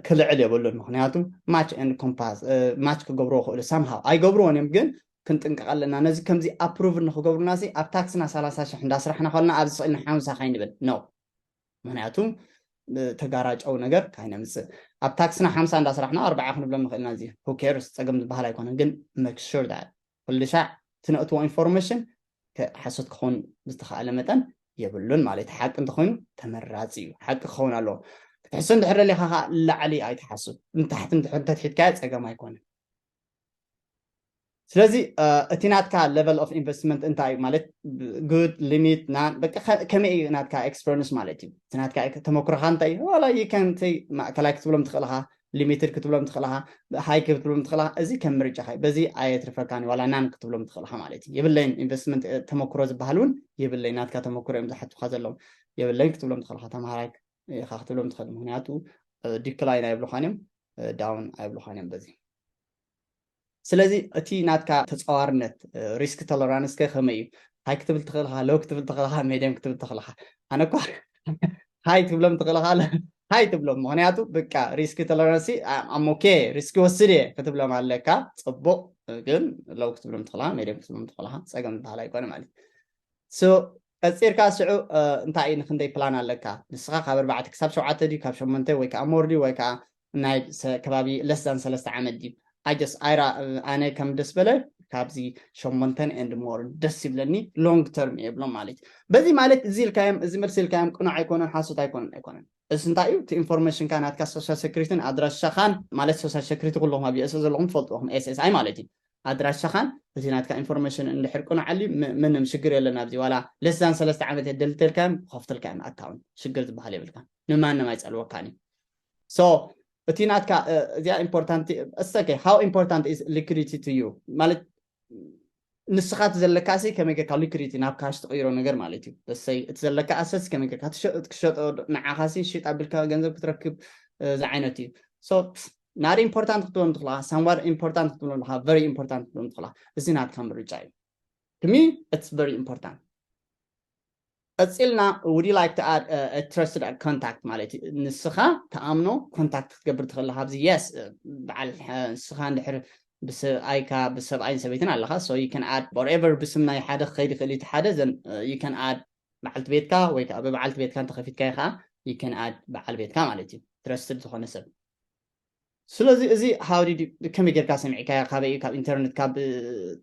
ክልዕል የብሉን ምክንያቱ ማች ን ኮምፓስ ማች ክገብርዎ ክእሉ ሳምሃው ኣይገብርዎን እዮም ግን ክንጥንቀቅ ኣለና ነዚ ከምዚ ኣፕሩቭ ንክገብሩና ሲ ኣብ ታክስና ሰላሳ ሽሕ እንዳስራሕና ከሎና ኣብዚ ስቂልና ሓምሳ ካይንብል ን ምክንያቱ ተጋራጨዊ ነገር ካይነምፅእ ኣብ ታክስና ሓምሳ እንዳስራሕና ኣርባዓ ክንብሎም ንክእል ኢና እዚ who cares ፀገም ዝበሃል ኣይኮነን ግን make sure that ኩሉ ሻዕ እቲ ነእትዎ ኢንፎርሜሽን ሓሶት ክኸውን ብዝተኸኣለ መጠን የብሉን ማለት እዩ ሓቂ እንተኮይኑ ተመራፂ እዩ ሓቂ ክኸውን ኣለዎ ክትሕሱ እንድሕር ደሊኻ ከዓ ላዕሊ ኣይትሓሱ ንታሕቲ እንተትሒትካዮ ፀገም ኣይኮነን ስለዚ እቲ ናትካ ለቨል ኦፍ ኢንቨስትመንት እንታይ እዩ ማለት ጉድ ሊሚት ና ከመይ እዩ ናትካ ኤክስፐርንስ ማለት እዩ እቲ ናትካ ተመክሮካ እንታይ እዩ ዋላ ይከንቲ ማእከላይ ክትብሎም ትኽእል ኢኻ ሊሚትድ ክትብሎም ትኽእል ኢኻ ሃይ ክትብሎም ትኽእል ኢኻ እዚ ከም ምርጫኻ እዩ በዚ ኣየትርፈካን ዋላ ናን ክትብሎም ትኽእል ኢኻ ማለት እዩ የብለይን ኢንቨስትመንት ተመክሮ ዝበሃል እውን የብለይ ናትካ ተመክሮ እዮም ዝሓቱካ ዘለዉ የብለይን ክትብሎም ትኽእል ኢኻ ተምሃራይ ኢኻ ክትብሎም ትኽእል ምክንያቱ ዲክላይን ኣይብሉኻን እዮም ዳውን ኣይብሉኻን እዮም በዚ ስለዚ እቲ ናትካ ተፃዋርነት ሪስክ ቶለራንስ ከ ከመይ እዩ ሃይ ክትብል ትኽእል ኻ ሎው ክትብል ትኽእል ኻ ሜድየም ክትብል ትኽእል ኻ ኣነ እኳ ሃይ ትብሎም ትኽእል ኻ ሃይ ትብሎም ምክንያቱ ብቃ ሪስክ ቶለራንሲ ኣሞኬ ሪስክ ወስድ እየ ክትብሎም ኣለካ ፅቡቅ ግን ሎው ክትብሎም ትኽእል ኻ ሜድየም ክትብሎም ትኽእል ኻ ፀገም ዝበሃል ኣይኮነ ማለት እዩ so ቀጺርካ ሽዑ እንታይ እዩ ንክንደይ ፕላን ኣለካ ንስካ ካብ ኣርባዕተ ክሳብ ሸውዓተ ድዩ ካብ ሸሞንተ ወይ ከዓ ሞር ድዩ ወይ ከዓ ናይ ከባቢ ለስ ዛን ሰለስተ ዓመት ድዩ ኣጀስ ኣይራ ኣነ ከም ደስ በለ ካብዚ ሸሞንተን ኤንድ ሞር ደስ ይብለኒ ሎንግ ተርም እየ ብሎም ማለት እዩ በዚ ማለት እዚ ኢልካዮም እዚ መልሲ ኢልካዮም ቅኑዕ ኣይኮነን ሓሶት ኣይኮነን ኣይኮነን እስ እንታይ እዩ እቲ ኢንፎርሜሽንካ ናትካ ሶሻል ሰኩሪትን ኣድራሻኻን ማለት ሶሻል ሰኩሪቲ ኩሉኹም ኣብ USA ዘለኹም ትፈልጥዎ ኢኹም SSI ማለት እዩ ኣድራሻኻን እቲ ናትካ ኢንፎርሜሽን እንድሕር ቅኑዕ ኣልዩ ምንም ሽግር የለን ኣብዚ ዋላ less than ሰለስተ ዓመት እየ ደልተልካዮም ክኸፍትልካ እዮም ኣካውንት ሽግር ዝበሃል የብልካን ንማንም ኣይጸልወካን እዩ so እቲ ናትካ እዚኣ ኢምፖርታንት እሰከ how important is liquidity to you ማለት ንስኻ እቲ ዘለካሲ ከመይ ጌርካ ሊኩዲቲ ናብ ካሽ ትቕይሮ ነገር ማለት እዩ እሰይ እቲ ዘለካ ኣሰስ ከመይ ጌርካ ክሸጦ ንዓኻሲ ሽጥ ኣቢልካ ገንዘብ ክትረክብ ዝዓይነት እዩ ሶ ናሪ ኢምፖርታንት ክትብሎም ትኽእልኻ ሳምዋር ኢምፖርታንት ክትብሎም ኣለኻ ቨሪ ኢምፖርታንት ክትብሎም ትኽእልኻ እዚ ናትካ ምርጫ እዩ ትሚ ኢትስ ቨሪ ኢምፖርታንት ቀጺልና ውድ ዩ ላይክ ቱ ኣድ እ ትረስትድ ኣድ ኮንታክት ማለት ዩ ንስኻ ትኣምኖ ኮንታክት ክትገብር ትኽእል ኣለኻ ኣብዚ የስ በዓል ንስኻ እንድሕር ብሰብኣይካ ብሰብኣይን ሰበይትን ኣለኻ ሶ ዩ ከን ኣድ ኦር ኤቨር ብስም ናይ ሓደ ክኸይድ ይኽእል ዩ እቲ ሓደ ዘን ዩ ከን ኣድ በዓልቲ ቤትካ ወይ ከዓ ብበዓልቲ ቤትካ እንተኸፊትካዮ ከዓ ዩ ከን ኣድ በዓል ቤትካ ማለት ዩ ትረስትድ ዝኾነ ሰብ ስለዚ እዚ how did you ከመይ ጌርካ ሰሚዕካዮ ካበይ እዩ ካብ ኢንተርነት ካብ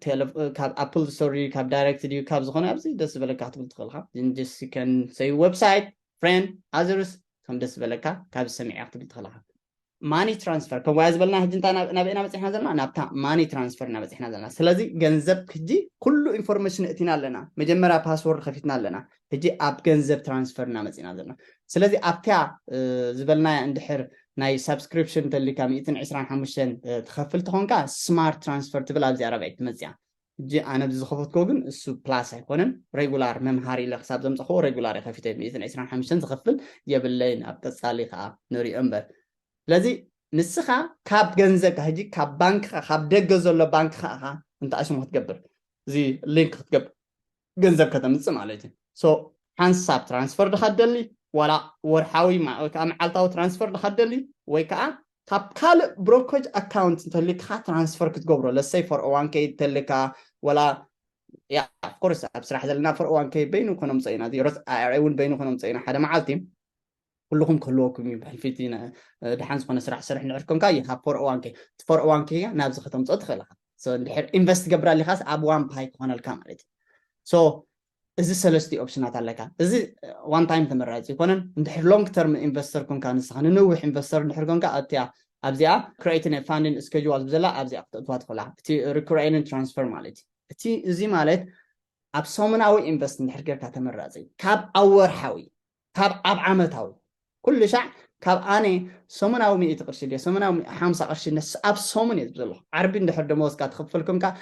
ቴለ ካብ ኣፕል ስቶር ድዩ ካብ ዳይሬክት ድዩ ካብ ዝኾነ ኣብዚ ደስ ዝበለካ ክትብል ትኽእል ኢኻ ግን just you can say website friend others ከም ደስ ዝበለካ ካብ ሰሚዕ እያ ክትብል ትኽእል ኢኻ ማኒ ትራንስፈር ከም ዋያ ዝበልና ሕጂ እንታይ ናብ- ናብ ኢና በፂሕና ዘለና ናብታ ማኒ ትራንስፈር ኢና በፂሕና ዘለና ስለዚ ገንዘብ ሕጂ ኩሉ ኢንፎርሜሽን እእቲና ኣለና መጀመርያ ፓስወርድ ከፊትና ኣለና ሕጂ ኣብ ገንዘብ ትራንስፈር እና መጺእና ዘለና ስለዚ ኣብታ ዝበልናያ እንድሕር ናይ ሳብስክሪፕሽን እንተልዩካ ሚእትን ዕስራን ሓሙሽተን ትኸፍል ተኾንካ ስማርት ትራንስፈር ትብል ኣብዚኣ ራብዐይቲ ትመጽያ ሕጂ ኣነ ብዚ ዝኸፈትክዎ ግን እሱ ፕላስ ኣይኮነን ሬጉላር መምሃሪ ኢለ ክሳብ ዘምጸኽዎ ሬጉላር እየ ከፊተ ሚእትን ዕስራን ሓሙሽተን ዝኸፍል የብለይን ኣብ ቀጻሊ ከዓ ንሪኦ እምበር ስለዚ ንስኻ ካብ ገንዘብካ ሕጂ ካብ ባንክኻ ካብ ደገ ዘሎ ባንክኻ ኢኻ እንተኣሽሙ ክትገብር እዚ ሊንክ ክትገብር ገንዘብ ከተምጽእ ማለት እዩ so ሓንሳብ ትራንስፈር ድኻ ትደሊ ዋላ ወርሓዊ ወይ ከዓ መዓልታዊ ትራንስፈር ድኻ ትደሊ ወይ ከዓ ካብ ካልእ ብሮከጅ ኣካውንት እንተልዩካ ትራንስፈር ክትገብሮ ለሰይ ፎር ዋን ከይ እንተልካ ወላ ያ ኣፍኮርስ ኣብ ስራሕ ዘለና ፎር ዋን ከይ በይኑ ኮነምፀ ኢና ዜሮስ ኣይኣይ እውን በይኑ ኮነምፀ ኢና ሓደ መዓልቲ ኩልኹም ክህልወኩም እዩ ብሕልፊ እቲ ድሓን ዝኾነ ስራሕ ስርሕ ንድሕር ኮንካ ይሃ ፎር ዋን ኬ እቲ ፎር ዋን ኬ ናብዚ ከተምፅኦ ትኽእል ኢኻ ድሕር ኢንቨስት ትገብር ኣሊኻስ ኣብ ዋን ፓይ ክኾነልካ ማለት እዩ ሶ እዚ ሰለስቲ ኦፕሽናት ኣለካ እዚ ዋን ታይም ተመራፂ ይኮነን እንድሕር ሎንግ ተርም ኢንቨስተር ኮንካ ንስኻ ንንዊሕ ኢንቨስተር እንድሕር ኮንካ ኣትያ ኣብዚኣ ክሬትን ፋንድን እስከጅዋል ብዘላ ኣብዚኣ ክተእትዋ ትኽእላ እቲ ሪኩሬንን ትራንስፈር ማለት እዩ እቲ እዚ ማለት ኣብ ሰሙናዊ ኢንቨስት እንድሕር ጌርካ ተመራፂ ካብ ኣወርሓዊ ካብ ኣብ ዓመታዊ ኩሉ ሻዕ ካብ ኣነ ሰሙናዊ ሚእቲ ቅርሺ ድየ ሰሙናዊ ሓምሳ ቅርሺ ነስ ኣብ ሰሙን እየ ዘለኹ ዓርቢ እንድሕር ደመወዝካ ትኽፈልኩም ከኣ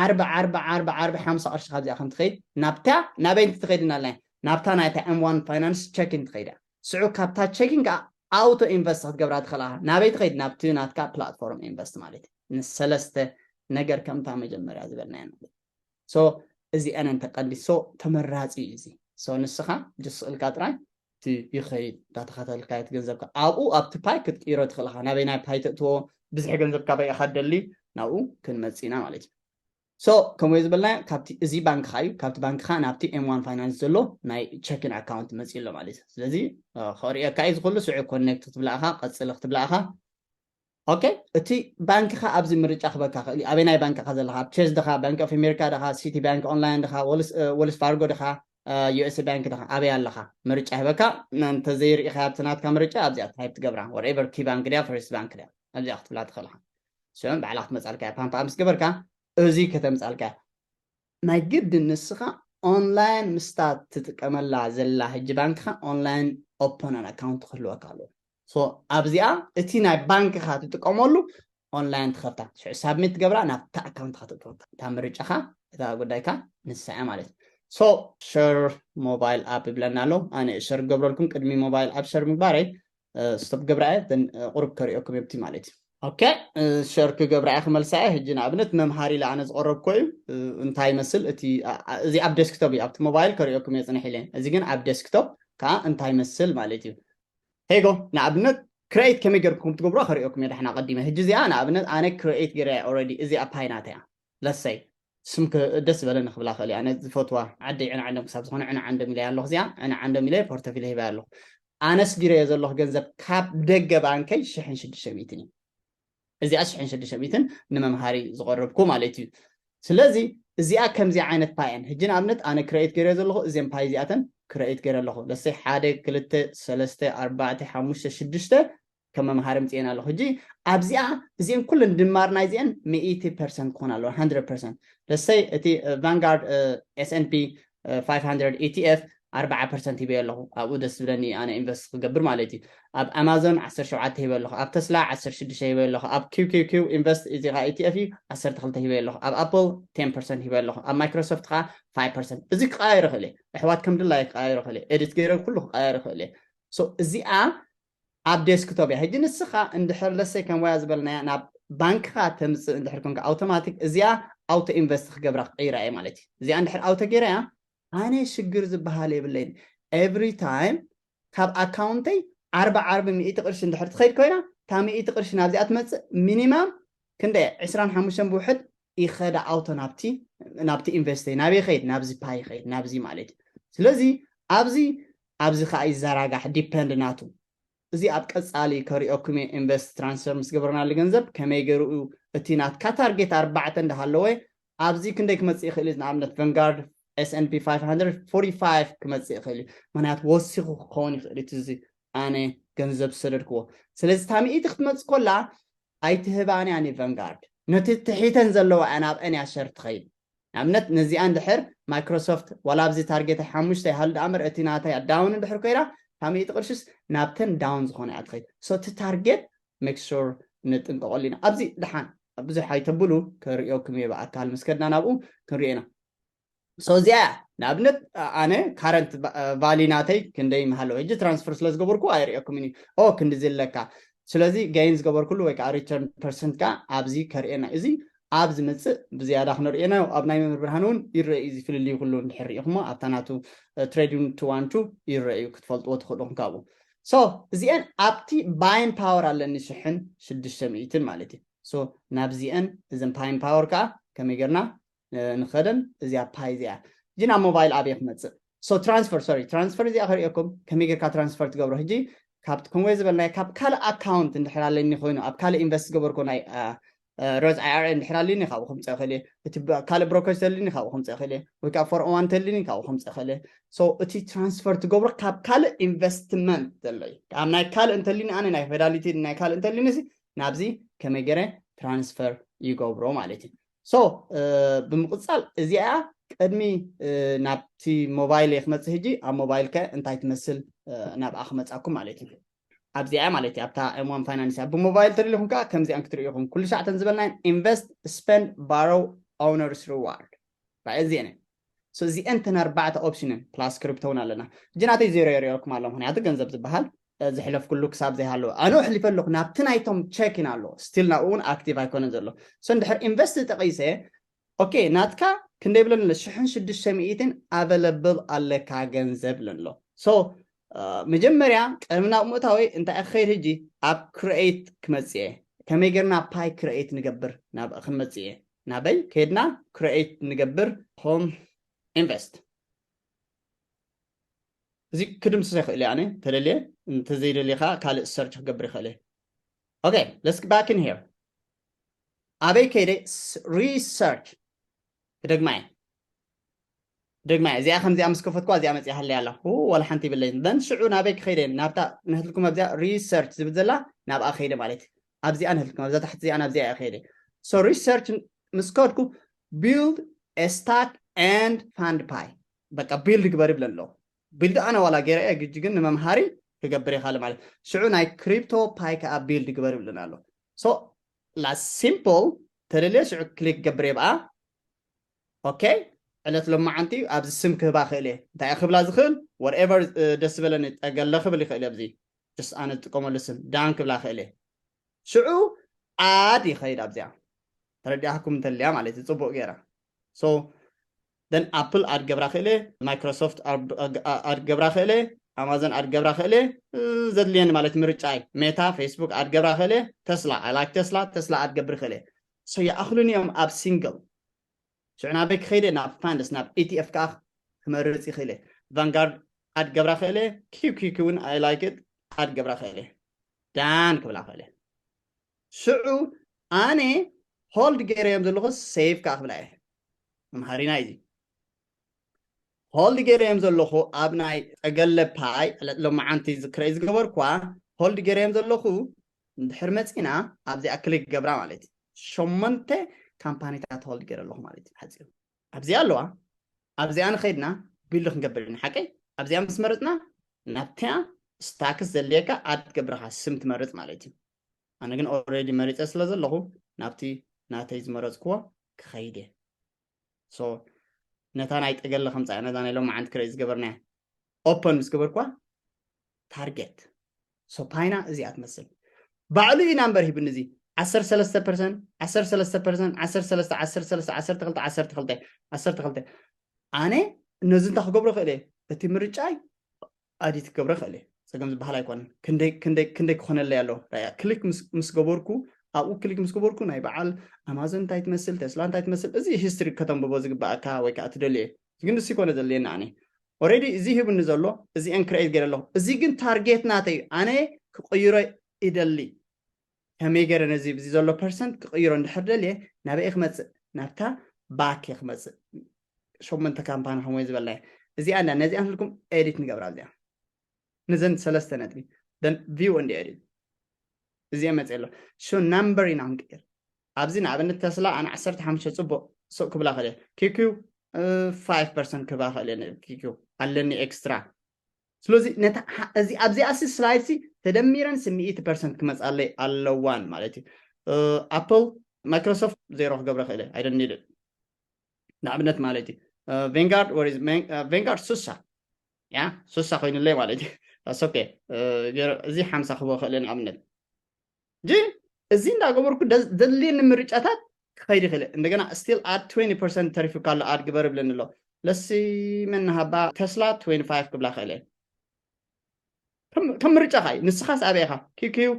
ዓርቢ ዓርቢ ዓርቢ ዓርቢ ሓምሳ ቅርሺ ካብዚኣ ከም ትኸይድ ናብታ ናበይንቲ ትኸይድን ኣለና ናብታ ናይታ ኤም ዋን ፋይናንስ ቸኪን ትኸይድ እያ ስዑ ካብታ ቸኪን ከኣ ኣውቶ ኢንቨስት ክትገብራ ትኽእል ኣኻ ናበይ ትኸይድ ናብቲ ናትካ ፕላትፎርም ኢንቨስት ማለት እዩ ንሰለስተ ነገር ከምታ መጀመርያ ዝበልናያ ማለት ሶ እዚኤን እንተቀሊት ሶ ተመራጺ እዩ እዚ ሶ ንስኻ ጅስ እልካ ጥራይ እቲ ይኸይድ እንዳተኸተልካዮ እቲ ገንዘብካ ኣብኡ ኣብቲ ፓይ ክትቅይሮ ትኽእል ኢኻ ናበይናይ ፓይ ተእትዎ ብዝሒ ገንዘብ ካበይ ኢኻ ትደሊ ናብኡ ክንመጽእ ኢና ማለት እዩ ሶ ከምኡ ዝበልናዮ ካብቲ እዚ ባንክኻ እዩ ካብቲ ባንክኻ ናብቲ ኤም ዋን ፋይናንስ ዘሎ ናይ ቸኪን ኣካውንት መፅኡ ኣሎ ማለት እዩ ስለዚ ክርእየካ እዩ ዝኽእሉ ስዑ ኮኔክት ክትብላ ኢኻ ቀፅሊ ክትብላ ኢኻ ኦኬ እቲ ባንክኻ ኣብዚ ምርጫ ክበካ ክእል እዩ ኣበናይ ባንክ ኢኻ ዘለኻ ኣብ ቼዝ ድኻ ባንክ ኦፍ ኣሜሪካ ድኻ ሲቲ ባንክ ኦንላይን ድኻ ወልስ ፋርጎ ድኻ ዩኤስ ባንክ ድኻ ኣበይ ኣለኻ ምርጫ ይበካ እንተዘይርኢኻ ኣብቲ ናትካ ምርጫ ኣብዚኣ ታይፕ ትገብራ ወርኤቨር ኪ ባንክ ድያ ፈርስት ባንክ ድያ ኣብዚኣ ክትብላ ትኽእል ኢኻ ስዑም ባዕላ ክትመፃልካ እያ ፓምፓ ምስ ገበርካ እዚ ከተምፃልካ እያ ናይ ግድን ንስኻ ኦንላይን ምስታ ትጥቀመላ ዘላ ህጂ ባንክኻ ኦንላይን ኦፖን ኣን ኣካውንት ክህልወካ ኣለዎ so ኣብዚኣ እቲ ናይ ባንክኻ ትጥቀመሉ ኦንላይን ትኸፍታ ሽዑ ሳብሚት ትገብራ ናብታ ኣካውንትኻ ትእትወካ እታ ምርጫኻ እታ ጉዳይካ ንሳ እያ ማለት እዩ so ሸር ሞባይል ኣፕ ይብለና ኣሎ ኣነ ሸር ገብረልኩም ቅድሚ ሞባይል ኣፕ ሸር ምግባረይ ስቶፕ ገብርኣየ እተን ቁሩብ ከሪኦኩም የብቲ ማለት እዩ ኦኬ ሸር ክገብራ እየ ክመልሳ እየ ሕጂ ንኣብነት መምሃሪ ኢለ ኣነ ዝቐረብኮ እዩ እንታይ ይመስል እቲ እዚ ኣብ ዴስክቶፕ እዩ ኣብቲ ሞባይል ከሪኦኩም እየ ፅንሕ ኢለ እዚ ግን ኣብ ዴስክቶፕ ከዓ እንታይ ይመስል ማለት እዩ ሄጎ ንኣብነት ክሬት ከመይ ገርኩም ትገብሩዋ ከሪኦኩም እየ ዳሕና ቀዲመ ሕጂ እዚኣ ንኣብነት ኣነ ክሬት ገይረ ኦረዲ እዚኣ ፓይናት እያ ለሰይ ስምኪ ደስ ዝበለኒ ክብላ እኽእል እየ ኣነ ዝፈትዋ ዓደይ ዕንዓንዶም ክሳብ ዝኾነ ዕንዓንዶም ኢለያ ኣለኹ እዚኣ ዕንዓንዶም ኢለ ፖርተፊለ ሂበያ ኣለኹ ኣነ ኣስጊረዮ ዘለኹ ገንዘብ ካብ ደገ ባንከይ ሽሕን ሽዱሽተ ሚእትን እዩ እዚኣ ሽሕን ሽዱሽተ ሚእትን ንመምሃሪ ዝቐረብኩ ማለት እዩ ስለዚ እዚኣ ከምዚ ዓይነት ፓይ እየን ሕጂ ንኣብነት ኣነ ክረኤት ገይረ ዘለኹ እዚን ፓይ እዚኣተን ክረኤት ገይረ ኣለኹ ለሰይ ሓደ ክልተ ሰለስተ ኣርባዕተ ሓሙሽተ ሽዱሽተ ከም መምሃሪ ኣምጺኤን ኣለኹ ሕጂ ኣብዚኣ እዚኤን ኩለን ድማር ናይዚኤን ሚእቲ ፐርሰንት ክኾና ኣለወን ሃንድረድ ፐርሰንት ለሰይ እቲ ቫንጋርድ ኤስኤንፒ 500 ETF ኣርባዓ ፐርሰንት ሂበዮ ኣለኹ ኣብኡ ደስ ዝብለኒ እዩ ኣነ ኢንቨስት ክገብር ማለት እዩ ኣብ ኣማዞን ዓሰርተ ሸውዓተ ሂበዮ ኣለኹ ኣብ ተስላ ዓሰርተ ሽዱሽተ ሂበዮ ኣለኹ ኣብ ኪውኪውኪ ኢንቨስት እዚ ከዓ ኢቲኤፍ እዩ ዓሰርተ ክልተ ሂበዮ ኣለኹ ኣብ ኣፕል ቴን ፐርሰንት ሂበዮ ኣለኹ ኣብ ማይክሮሶፍት ከዓ ፋይቭ ፐርሰንት እዚ ክቀያየር ይኽእል እየ ኣሕዋት ከም ድላየ ክቀያየር ይኽእል እየ ኤዲት ገይረ ኩሉ ክቀያየር ይኽእል እየ እዚኣ ኣብ ዴስክቶፕ እያ ሕጂ ንስኻ እንድሕር ለሰይ ከም ወያ ዝበልናያ ናብ ባንክኻ ተምጽእ እንድሕር ኮንካ ኣውቶማቲክ እዚኣ ኣውቶ ኢንቨስት ክገብራ ክቅይራ እየ ማለት እዩ እዚኣ እንድሕር ኣውቶ ጌረያ ኣነ ሽግር ዝበሃል የብለይን ኤቭሪ ታይም ካብ ኣካውንተይ ዓርቢ ዓርቢ ሚእቲ ቅርሺ እንድሕር ትኸይድ ኮይና እታ ሚእቲ ቅርሺ ናብዚኣ ትመጽእ ሚኒማም ክንደይ ዕስራን ሓሙሽተን ብውሕድ ይኸዳ ኣውቶ ናብቲ ናብቲ ኢንቨስተ ናበይ ይኸይድ ናብዚ ፓ ይኸይድ ናብዚ ማለት እዩ ስለዚ ኣብዚ ኣብዚ ከዓ ይዘራጋሕ ዲፐንድ ናቱ እዚ ኣብ ቀፃሊ ከሪኦኩም እየ ኢንቨስት ትራንስፈር ምስ ገበርናሉ ገንዘብ ከመይ ገይሩ እዩ እቲ ናትካ ታርጌት ኣርባዕተ እንዳሃለወ ኣብዚ ክንደይ ክመፅእ ይኽእል እዩ ንኣብነት ቨንጋርድ ኤስኤንፒ 545 ክመፅእ ይኽእል እዩ ምክንያቱ ወሲኹ ክኸውን ይኽእል እቲ ኣነ ገንዘብ ዝሰደድክዎ ስለዚ እታ ሚእቲ ክትመፅእ ኮላ ኣይትህባን እያ ንቨንጋርድ ነቲ ትሒተን ዘለዋ እያ ናብአን እያ ሸር ትኸይድ ንኣብነት ነዚኣ እንድሕር ማይክሮሶፍት ዋላ ኣብዚ ታርጌተይ ሓሙሽተ ይሃሉ ደኣ እምበር እቲ ናተይ ዳውን እንድሕር ኮይና እታ ሚእቲ ቅርሽስ ናብተን ዳውን ዝኾነ እያ ትኸይድ ሶ እቲ ታርጌት ሜክ ሹር ንጥንቀቐሉ ኢና ኣብዚ ደሓን ብዙሕ ኣይተብሉ ክርእየኩም እየ ብኣካል ምስ ከድና ናብኡ ክንሪኦ ኢና ሶ እዚኣ እያ ንኣብነት ኣነ ካረንት ቫሊ ናተይ ክንደይ ምሃሎ ሕጂ ትራንስፈር ስለ ዝገበርኩ ኣይርእየኩምን እዩ ኦ ክንዲዚ ኣለካ ስለዚ ገይን ዝገበርኩሉ ወይ ከዓ ሪተርን ፐርሰንት ከዓ ኣብዚ ከርእየና እዩ እዚ ኣብ ዝመፅእ ብዝያዳ ክንርእዮ ኢና ኣብ ናይ መምህር ብርሃን እውን ይረአ እዩ ዝፍልልዩ ኩሉ እንድሕር ሪኢኹሞ ኣብታ ናቱ ትሬዲን ቱ ዋን ቱ ይረአ እዩ ክትፈልጥዎ ትኽእሉ ኹም ካብኡ ሶ እዚአን ኣብቲ ባይን ፓወር ኣለኒ ሽሕን ሽዱሽተ ሚእትን ማለት እዩ ሶ ናብዚአን እዘን ባይን ፓወር ከዓ ከመይ ጌርና ንኸደን እዚኣ ፓይ እዚኣ ሕጂ ናብ ሞባይል ኣብየ ክመፅእ ሶ ትራንስፈር ሶሪ ትራንስፈር እዚኣ ክርእየኩም ከመይ ጌርካ ትራንስፈር ትገብሮ ሕጂ ካብቲ ከምወ ዝበልናዮ ካብ ካልእ ኣካውንት እንድሕር ኣለኒ ኮይኑ ኣብ ካልእ ኢንቨስት ዝገበርኮ ናይ ሮዝ ኣይኣር እንድሕር ኣልኒ ካብኡ ክምፀ ይኽእል እየ እቲ ካልእ ብሮከጅ ተልኒ ካብኡ ክምፀ ይኽእል እየ ወይ ከዓ ፎር ዋን ተልኒ ካብኡ ክምፀ ይኽእል እየ ሶ እቲ ትራንስፈር ትገብሮ ካብ ካልእ ኢንቨስትመንት ዘሎ እዩ ኣብ ናይ ካልእ እንተልኒ ኣነ ናይ ፌዳሊቲ ናይ ካልእ እንተልኒ ናብዚ ከመይ ገረ ትራንስፈር ይገብሮ ማለት እዩ ሶ ብምቕፃል እዚኣ እያ ቅድሚ ናብቲ ሞባይል ክመፅእ ሕጂ ኣብ ሞባይል ከ እንታይ ትመስል ናብኣ ክመፃኩም ማለት እዩ ኣብዚኣ እያ ማለት እዩ ኣብታ ኤምዋን ፋይናንስ እያ ብሞባይል ተደሊኹም ከዓ ከምዚኣን ክትርእዩ ኢኹም ኩሉ ሻዕተን ዝበልናየን ኢንቨስት ስፐንድ ባሮው ኦውነርስ ሪዋርድ ባየ እዚአን እየን ሶ እዚኤን እተን ኣርባዕተ ኦፕሽን እየን ፕላስ ክሪፕቶ ውን ኣለና ሕጂ ናተይ ዜሮ የርእየኩም ኣሎ ምክንያቱ ገንዘብ ዝበሃል ዝሕለፍኩሉ ክሳብ ዘይሃለወ ኣነ ኣሕሊፈ ኣለኩ ናብቲ ናይቶም ቸክ ኢና ኣለዎ ስቲል ናብኡ እውን ኣክቲቭ ኣይኮነን ዘሎ ሶ እንድሕር ኢንቨስት ተጠቂሰ ኦኬ ናትካ ክንደይ ብለን ኣሎ ሽሕን ሽዱሽተ ሚእትን ኣቨለብል ኣለካ ገንዘብ ብለን ኣሎ ሶ መጀመርያ ቅድሚ ናብ ምእታወይ እንታይ ክኸይድ ሕጂ ኣብ ክርኤት ክመፅእ እየ ከመይ ጌርና ፓይ ክርኤት ንገብር ናብ ክንመፅእ እየ ናበይ ከይድና ክረኤት ንገብር ሆም ኢንቨስት እዚ ክድምስሰ ይኽእል እየ ኣነ ተደልየ እንተዘይደልየ ከዓ ካልእ ሰርች ክገብር ይኽእል እየ ኦኬ ለስ ባክን ሄር ኣበይ ከይደ ሪሰርች ክደግማ እየ ደግማ እዚኣ ከምዚኣ ምስ ከፈትኩዋ እዚኣ መፅያ ሃለያ ኣላ ዋላ ሓንቲ ይብለይን ዘን ሽዑ ናበይ ክኸይደ ናብታ ንህትልኩም ኣብዚኣ ሪሰርች ዝብል ዘላ ናብኣ ከይደ ማለት እዩ ኣብዚኣ ንህትልኩም ኣብዛ ታሕቲ እዚኣ ናብዚኣ እየ ከይደ ሶ ሪሰርች ምስ ከድኩ ቢልድ ስታክ ኤንድ ፋንድ ፓይ በቃ ቢልድ ግበር ይብለ ኣሎ ቢልድ ኣነ ዋላ ገይረ እየ ግጂ ግን ንመምሃሪ ክገብር ይካለ ማለት ሽዑ ናይ ክሪፕቶ ፓይ ከዓ ቢልድ ግበር ይብለና ኣሎ ሶ ላ ሲምፕል ተደልየ ሽዑ ክሊክ ገብር የብኣ ኦኬ ዕለት ሎማዓንቲ እዩ ኣብዚ ስም ክህባ ይክእል እየ እንታይ እየ ክብላ ዝክእል whatever ደስ ዝበለኒ ጠገለ ክብል ይክእል እየ ኣብዚ just ኣነ ዝጥቀመሉ ስም ዳን ክብላ ይክእል እየ ሽዑ ኣድ ይከይድ ኣብዚኣ ተረዲኣኩም እንተልያ ማለት እዩ ፅቡቅ ገይረ so then ኣፕል ኣድ ገብራ ክእል እየ ማይክሮሶፍት ኣድ ገብራ ክእል እየ ኣማዞን ኣድ ገብራ ክእል እየ ዘድልየኒ ማለት ምርጫ እዩ ሜታ ፌስቡክ ኣድ ገብራ ክእል እየ ተስላ ኣይ ላይክ ተስላ ተስላ ኣድ ገብር ክእል እየ so ይኣኽሉኒ እዮም ኣብ ሲንግል ሽዑ ናበይ ክኸይድ እየ ናብ ፋንድስ ናብ ኢቲኤፍ ከዓ ክመርፅ ይኽእል እየ ቫንጋርድ ኣድ ገብራ ክእል እየ ኪኪኪ እውን ኣይ ላይክ ኢት ኣድ ገብራ ክእል እየ ዳን ክብላ ክእል እየ ሽዑ ኣነ ሆልድ ገይረዮም ዘለኹ ሴቭ ከዓ ክብላ እየ መምሃሪና እዩ ሆልድ ገይረዮም ዘለኹ ኣብ ናይ ጸገለ ፓይ ዕለት ሎማዓንቲ ዝክረይ ዝገበርኩዋ ሆልድ ገይረዮም ዘለኹ እንድሕር መጺና ኣብዚኣ ክሊክ ክገብራ ማለት እዩ ሸሞንተ ካምፓኒታት ሆልድ ገይረ ኣለኹ ማለት እዩ ሓጺሩ ኣብዚኣ ኣለዋ ኣብዚኣ ንኸይድና ቢልድ ክንገብር ኢና ሓቀይ ኣብዚኣ ምስ መረጽና ናብታ ስታክስ ዘድልየካ ኣድ ትገብርኻ ስም ትመርጽ ማለት እዩ ኣነ ግን ኦልሬዲ መሪጸ ስለ ዘለኹ ናብቲ ናተይ ዝመረጽኩዎ ክኸይድ እየ ሶ ነታ ናይ ጠገለ ከምፃያ ነዛ ናይ ሎማዓንቲ ክረኢ ዝገበርናያ ኦፐን ምስ ገበርኳ ታርጌት ሶ ፓይና እዚኣ ትመስል ባዕሉ እዩ ናምበር ሂብኒ እዚ ዓሰርተ ሰለስተ ፐርሰንት ዓሰርተ ሰለስተ ፐርሰንት ዓሰርተ ሰለስተ ዓሰርተ ሰለስተ ዓሰርተ ክልተ ዓሰርተ ክልተ ዓሰርተ ክልተ ኣነ ነዚ እንታይ ክገብሮ ክእል እየ እቲ ምርጫይ ኣዲት ክገብሮ ይኽእል እየ ፀገም ዝበሃል ኣይኮነን ክንደይ ክንደይ ክንደይ ክኾነለይ ኣለዎ ራያ ክሊክ ምስ- ምስ ገበርኩ ኣብኡ ክሊክ ምስ ገበርኩ ናይ በዓል ኣማዞን እንታይ ትመስል ቴስላ እንታይ ትመስል እዚ ሂስትሪ ከተንብቦ ዝግበኣካ ወይ ከዓ ትደልዮ እዩ እዚ ግን ንሱ ይኮነ ዘድልየኒ ኣነ ኦሬዲ እዚ ሂቡኒ ዘሎ እዚኤን ክሬኤት ገይረ ኣለኹ እዚ ግን ታርጌት ናተይ እዩ ኣነ ክቕይሮ ይደሊ ከመይ ገይረ ነዚ እዚ ዘሎ ፐርሰንት ክቕይሮ እንድሕር ደልየ ናበይ ክመፅእ ናብታ ባክ እየ ክመፅእ ሸሞንተ ካምፓኒ ከምወይ ዝበልናዮ እዚኣ እንዳ ነዚኣ ንልኩም ኤዲት ንገብራ እዚኣ ንዘን ሰለስተ ነጥቢ ደን ቪው እንዲ ኤዲት እዚኣ መፅእ ኣሎ ሶ ናምበር ኢና ክንቅይር ኣብዚ ንኣብነት ተስላ ኣነ ዓሰርተ ሓሙሽተ ፅቡቕ ሱቕ ክብላ ክእል እየ ኪኪው ፋይቭ ፐርሰንት ክህባ ክእል እየ ኪኪው ኣለኒ ኤክስትራ ስለዚ ኣብዚኣሲ ስላይድሲ ተደሚረን ስምኢቲ ፐርሰንት ክመፃለይ ኣለዋን ማለት እዩ ኣፕል ማይክሮሶፍት ዜሮ ክገብረ ክእለ ኣይደኒድን ንኣብነት ማለት እዩ ቬንጋርድ ወሪዝ ቬንጋርድ ሱሳ ያ ሱሳ ኮይኑለይ ማለት እዩ ሶኬ እዚ ሓምሳ ክቦ ክእለ ንኣብነት ግን እዚ እንዳገበርኩ ዘድልየኒ ምርጫታት ክኸይድ ይኽእል እንደገና ስቲል ኣድ 20 ፐርሰንት ተሪፉካ ኣሎ ኣድ ግበር ይብለኒ ኣሎ ለሲ መናሃባ ተስላ 25 ክብላ ክእል እየ ከም ምርጫኻ እዩ ንስኻስ ኣበይ ኢኻ ኪኪዩ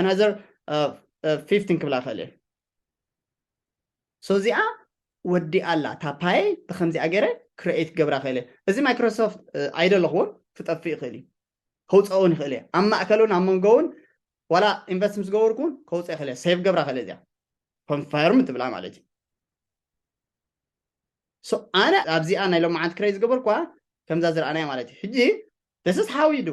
ኣናዘር 15 ክብላ ክእል እየ ሶ እዚኣ ወዲኣ ኣላ ታፓየ ብከምዚኣ ገይረ ክርኤት ገብራ ክእል እየ እዚ ማይክሮሶፍት ኣይደለኹዎን ክጠፍእ ይኽእል እዩ ከውፀኦን ይኽእል እየ ኣብ ማእከሉን ኣብ መንጎውን ዋላ ኢንቨስት ምስ ገበርኩን ከውፀ ይኽእል እየ ሴቭ ገብራ ክእል እዚኣ ኮንፈርም ትብላ ማለት እዩ ሶ ኣነ ኣብዚኣ ናይ ሎማዓንቲ ክረይ ዝገበርኳ ከምዛ ዝረኣናያ ማለት እዩ ሕጂ ደስስ ሓዊ ዱ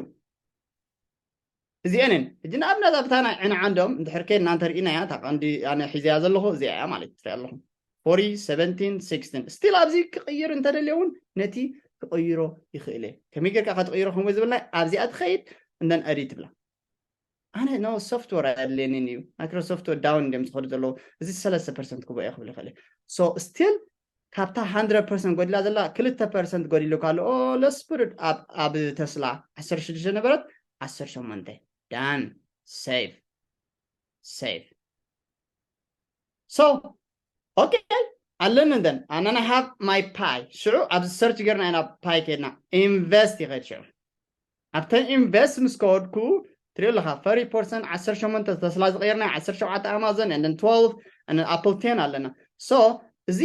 እዚአንን ሕጂ ንኣብነት ኣብታ ናይ ዕንዓንዶም እንድሕር ከይድና እንተርኢናያ እታ ቀንዲ ኣነ ሒዘያ ዘለኹ እዚኣ እያ ማለት እዩ ትሪኣ ኣለኹም ፎሪ ሰቨንቲን ሲክስቲን ስቲል ኣብዚ ክቕይር እንተደልዮ እውን ነቲ ክቕይሮ ይኽእል እየ ከመይ ጌርካ ከትቕይሮ ከምኡ ዝብልና ኣብዚኣ ትኸይድ እንደን ኣዲ ትብላ ኣነ ኖ ሶፍትወር ኣየድልየኒን እዩ ማይክሮሶፍት ዳውን እንዲም ዝኸዱ ዘለዉ እዚ ሰለስተ ፐርሰንት ክቦ እየ ክብል ይኽእል እዩ ሶ ስቲል ካብታ ሃንድረ ፐርሰንት ጎዲላ ዘላ ክልተ ፐርሰንት ጎዲሉ ካሉ ኦ ለስፕርድ ኣብ ተስላ ዓሰርተ ሽዱሽተ ነበረት ዓሰርተ ሸሞንተ ዳን ሰይፍ ሰይፍ ሶ ኦኬ ኣለኒ ደን ኣነ ናይ ሃብ ማይ ፓይ ሽዑ ኣብዚ ሰርች ገርና ኢና ፓይ ከድና ኢንቨስት ይኸድ ሽዑ ኣብተን ኢንቨስት ምስ ከወድኩ ትሪኦ ኣለኻ ፈሪ ፖርሰን 18 ተስላ ዝቀየርና 17 ኣማዞን ንን 12 ንን ኣፕል 10 ኣለና ሶ እዚ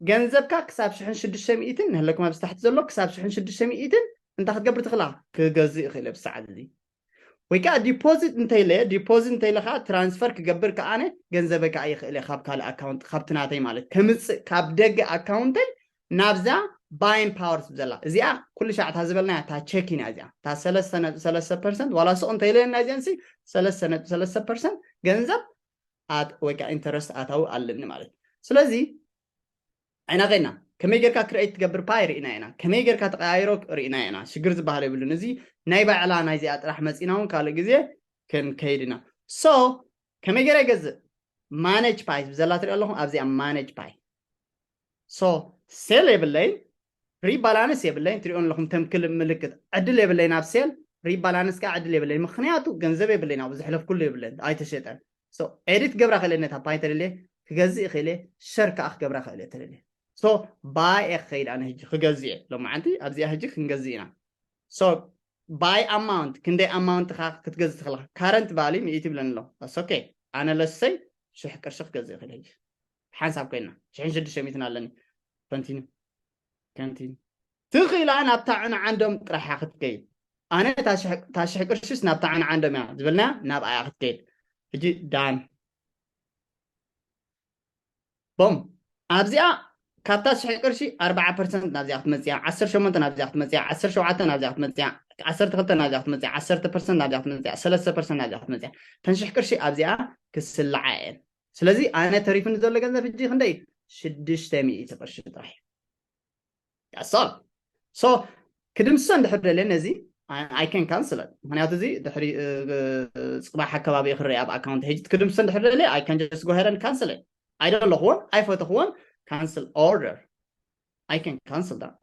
ገንዘብካ ክሳብ ሽሕን ሽዱሽተ ሚእትን ንህለኩም ኣብዚ ታሕቲ ዘሎ ክሳብ ሽሕን ሽዱሽተ ሚእትን እንታይ ክትገብር ትኽእላ ክገዝእ ይኽእል ኣብ ሰዓት እዚ ወይ ከኣ ዲፖዚት እንተ ኢለ ዲፖዚት እንተ ኢለ ከኣ ትራንስፈር ክገብር ከኣነ ገንዘበ ከኣ ይኽእል እየ ካብ ካልእ ኣካውንት ካብቲ ናተይ ማለት ከምጽእ ካብ ደገ ኣካውንተይ ናብዛ ባይን ፓወርስ ብዘላ እዚኣ ኩሉ ሻዕ እታ ዝበልናያ እታ ቸኪን እያ እዚኣ እታ ሰለስተ ነጥቢ ሰለስተ ፐርሰንት ዋላ ሱቕ እንተ ኢለየና እዚኣን ሲ ሰለስተ ነጥቢ ሰለስተ ፐርሰንት ገንዘብ ወይ ከዓ ኢንተረስት ኣታዊ ኣለኒ ማለት ስለዚ ኣይናገና ከመይ ጌርካ ክርኤት ትገብር ፓይ ሪኢና ኢና ከመይ ጌርካ ተቀያይሮ ሪኢና ኢና ሽግር ዝባሃል የብሉን እዚ ናይ ባዕላ ናይ ዚኣ ጥራሕ መጺና ውን ካልእ ግዜ ክንከይድ ኢና ሶ ከመይ ጌረ ይገዝእ ማነጅ ፓይ ብዘላ ትሪኦ ኣለኹም ኣብዚኣ ማነጅ ፓይ ሶ ሴል የብለይን ሪባላንስ የብለይን ትሪኦ ኣለኹም ተምክል ምልክት ዕድል የብለይን ኣብ ሴል ሪባላንስ ከዓ ዕድል የብለይን ምክንያቱ ገንዘብ የብለይን ኣብ ዘሕለፍኩሉ የብለይን ኣይተሸጠን ሶ ኤዲት ክገብራ ክእለ ነታ ፓይ ተደልየ ክገዝእ ይኽእል እየ ሸር ከዓ ክገብራ ክእለ እየ ተደልየ ሶ ባይ እየ ክኸይድ ኣነ ህጂ ክገዝእ እየ ሎመዓንቲ ኣብዚኣ ህጂ ክንገዝእ ኢና ሶ ባይ ኣማውንት ክንደይ ኣማውንት ካ ክትገዝእ ትኽእል ኢኻ ካረንት ቫልዩ ሚእቲ ይብለኒ ኣሎ ኣስ ኦኬ ኣነ ለሰይ ሽሕ ቅርሺ ክገዝእ ይኽእል ህጂ ሓንሳብ ኮይና ሽሕን ሽዱሽተ ሚእትን ኣለኒ ኮንቲኒ ከምቲ ትኽ ኢላ ናብታ ዕንዓንዶም ጥራሕ እያ ክትከይድ ኣነ እታ ሽሕ ቅርሽስ ናብታ ዕንዓንዶም እያ ዝበልና ናብኣ እያ ክትከይድ ሕጂ ዳን ቦም ኣብዚኣ ካብታ ሽሕ ቅርሺ ኣርባዓ ፐርሰንት ናብዚኣ ክትመፅያ ዓሰርተ ሸሞንተ ናብዚኣ ክትመፅያ ዓሰርተ ሸውዓተ ናብዚኣ ክትመፅያ ዓሰርተ ክልተ ናብዚኣ ክትመፅያ ዓሰርተ ፐርሰንት ናብዚኣ ክትመፅያ ሰለስተ ፐርሰንት ናብዚኣ ክትመፅያ ተን ሽሕ ቅርሺ ኣብዚኣ ክስልዓ እየን ስለዚ ኣነ ተሪፉኒ ዘሎ ገንዘብ ሕጂ ክንደይ ሽዱሽተ ሚእቲ ቅርሺ ጥራሕ እዩ ያሳል ሶ ክድምስሶ እንድሕር ደልየ ነዚ ኣይከን ካንስለ ምክንያቱ እዚ ድሕሪ ፅባሕ ኣከባቢ ክረአ ኣብ ኣካውንት ሕጂ ክድምስሶ እንድሕር ደልየ ኣይከን ጀስ ጎሄረን ካንስለ ኣይደለኹዎን ኣይፈተኹዎን ካንስል ኦርደር ኣይ ካን ካንስል ዳት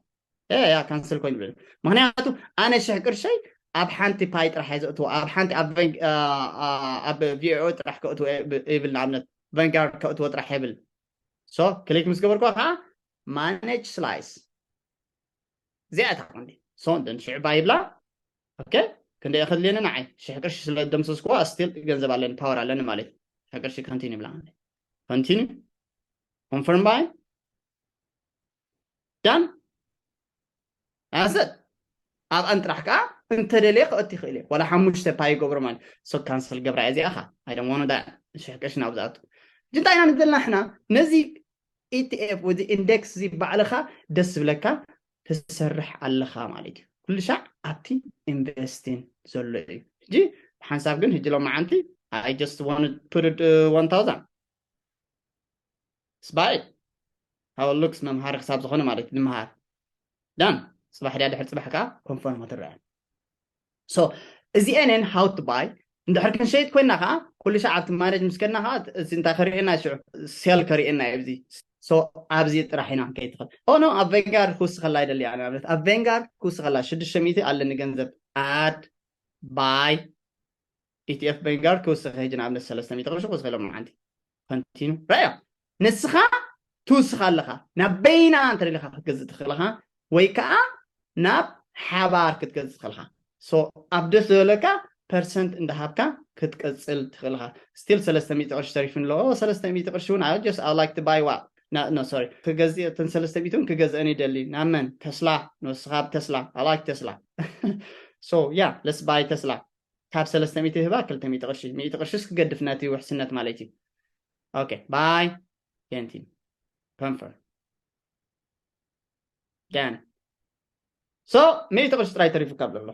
ያ ካንስል ኮይኑ ብለ ምክንያቱ ኣነ ሽሕ ቅርሸይ ኣብ ሓንቲ ፓይ ጥራሕ እየ ዘእትዎ ኣብ ሓንቲ ኣብ ቪኦ ጥራሕ ከእትዎ ይብል ንኣብነት ቨንጋርድ ከእትዎ ጥራሕ ይብል ሶ ክሊክ ምስ ገበርኩ ከዓ ማነጅ ስላይስ እዚኣ እታ ቀንዲ ሶ ደን ሽዕባ ይብላ ኦኬ ክንደይ ክድልየኒ ንዓይ ሽሕ ቅርሺ ስለ ደምሰስኩዋ ስቲል ገንዘብ ኣለኒ ፓወር ኣለኒ ማለት እዩ ሽሕ ቅርሺ ኮንቲኒ ይብላ ኮንቲኒ ኮንፈርም ባይ ዳን ኣሰድ ኣብኣን ጥራሕ ከዓ እንተደልየ ክእት ይኽእል እዩ ዋላ ሓሙሽተ ፓይ ይገብሮ ማለት ሶ ካንሰል ገብራ እያ እዚኣኻ ኣይደሞኖ ዳ ሽሕ ቀሽ ናብ ዝኣቱ እጅ እንታይ ኢና ንዘልና ሕና ነዚ ኢቲኤፍ ወይ ኢንዴክስ እዚ ባዕልኻ ደስ ዝብለካ ትሰርሕ ኣለኻ ማለት እዩ ኩሉ ሻዕ ኣብቲ ኢንቨስቲን ዘሎ እዩ ሕጂ ሓንሳብ ግን ሕጂ ሎማዓንቲ ኣይ ጀስት ዋን ፑት ዋን ታውዛንድ ስባይ ሃው ሉክስ መምሃሪ ክሳብ ዝኾነ ማለት ንምሃር ዳን ፅባሕ ድያ ድሕር ፅባሕ ከዓ ኮንፈርም ትረአ ሶ እዚኤን ን ሃው ቱ ባይ እንድሕር ክንሸይጥ ኮይና ከዓ ኩሉ ሻዕ ኣብቲ ማነጅ ምስ ከድና ከዓ እዚ እንታይ ከርእየና ሽዑ ሴል ከርእየና እዩ እዚ ሶ ኣብዚ ጥራሕ ኢና ክንከይድ ትኽእል ኦ ኖ ኣብ ቬንጋር ክውስኸላ ይደሊ እያ ንኣብነት ኣብ ቬንጋር ክውስኸላ ሽዱሽተ ሚእቲ ኣለኒ ገንዘብ ኣድ ባይ ኢቲኤፍ በይንጋርድ ክውስኽ ህጂ ንኣብነት ሰለስተ ሚእቲ ቅርሺ ክውስኽ ኢሎም መዓንቲ ፈንቲኑ ረኣዮ ንስኻ ትውስኻ ኣለኻ ናብ በይና እንተ ደሊኻ ክትገዝእ ትኽእል ኢኻ ወይ ከዓ ናብ ሓባር ክትገዝእ ትኽእል ኢኻ ሶ ኣብ ደስ ዝበለካ ፐርሰንት እንዳሃብካ ክትቅፅል ትኽእል ኢኻ ስቲል ሰለስተ ሚእቲ ቅርሺ ተሪፉ ኣሎ ሰለስተ ሚእቲ ቅርሺ እውን ኣጆስ ኣይ ላይክ ቱ ባይ ዋት ኖ ሶሪ ክገዝእ እተን ሰለስተ ሚእትን ክገዝአን ይደሊ ናብ መን ተስላ ንወስኻብ ተስላ ኣላይክ ተስላ ሶ ያ ለስ ባይ ተስላ ካብ ሰለስተ ሚእቲ ህባ ክልተ ሚእቲ ቅርሺ ሚእቲ ቅርሽስ ክገድፍ ነቲ ውሕስነት ማለት እዩ ኦኬ ባይ ጌንቲ ኮንፈርም ዳን ሶ ሚእቲ ቅርሺ ጥራይ ተሪፉ ካብ ዘሎ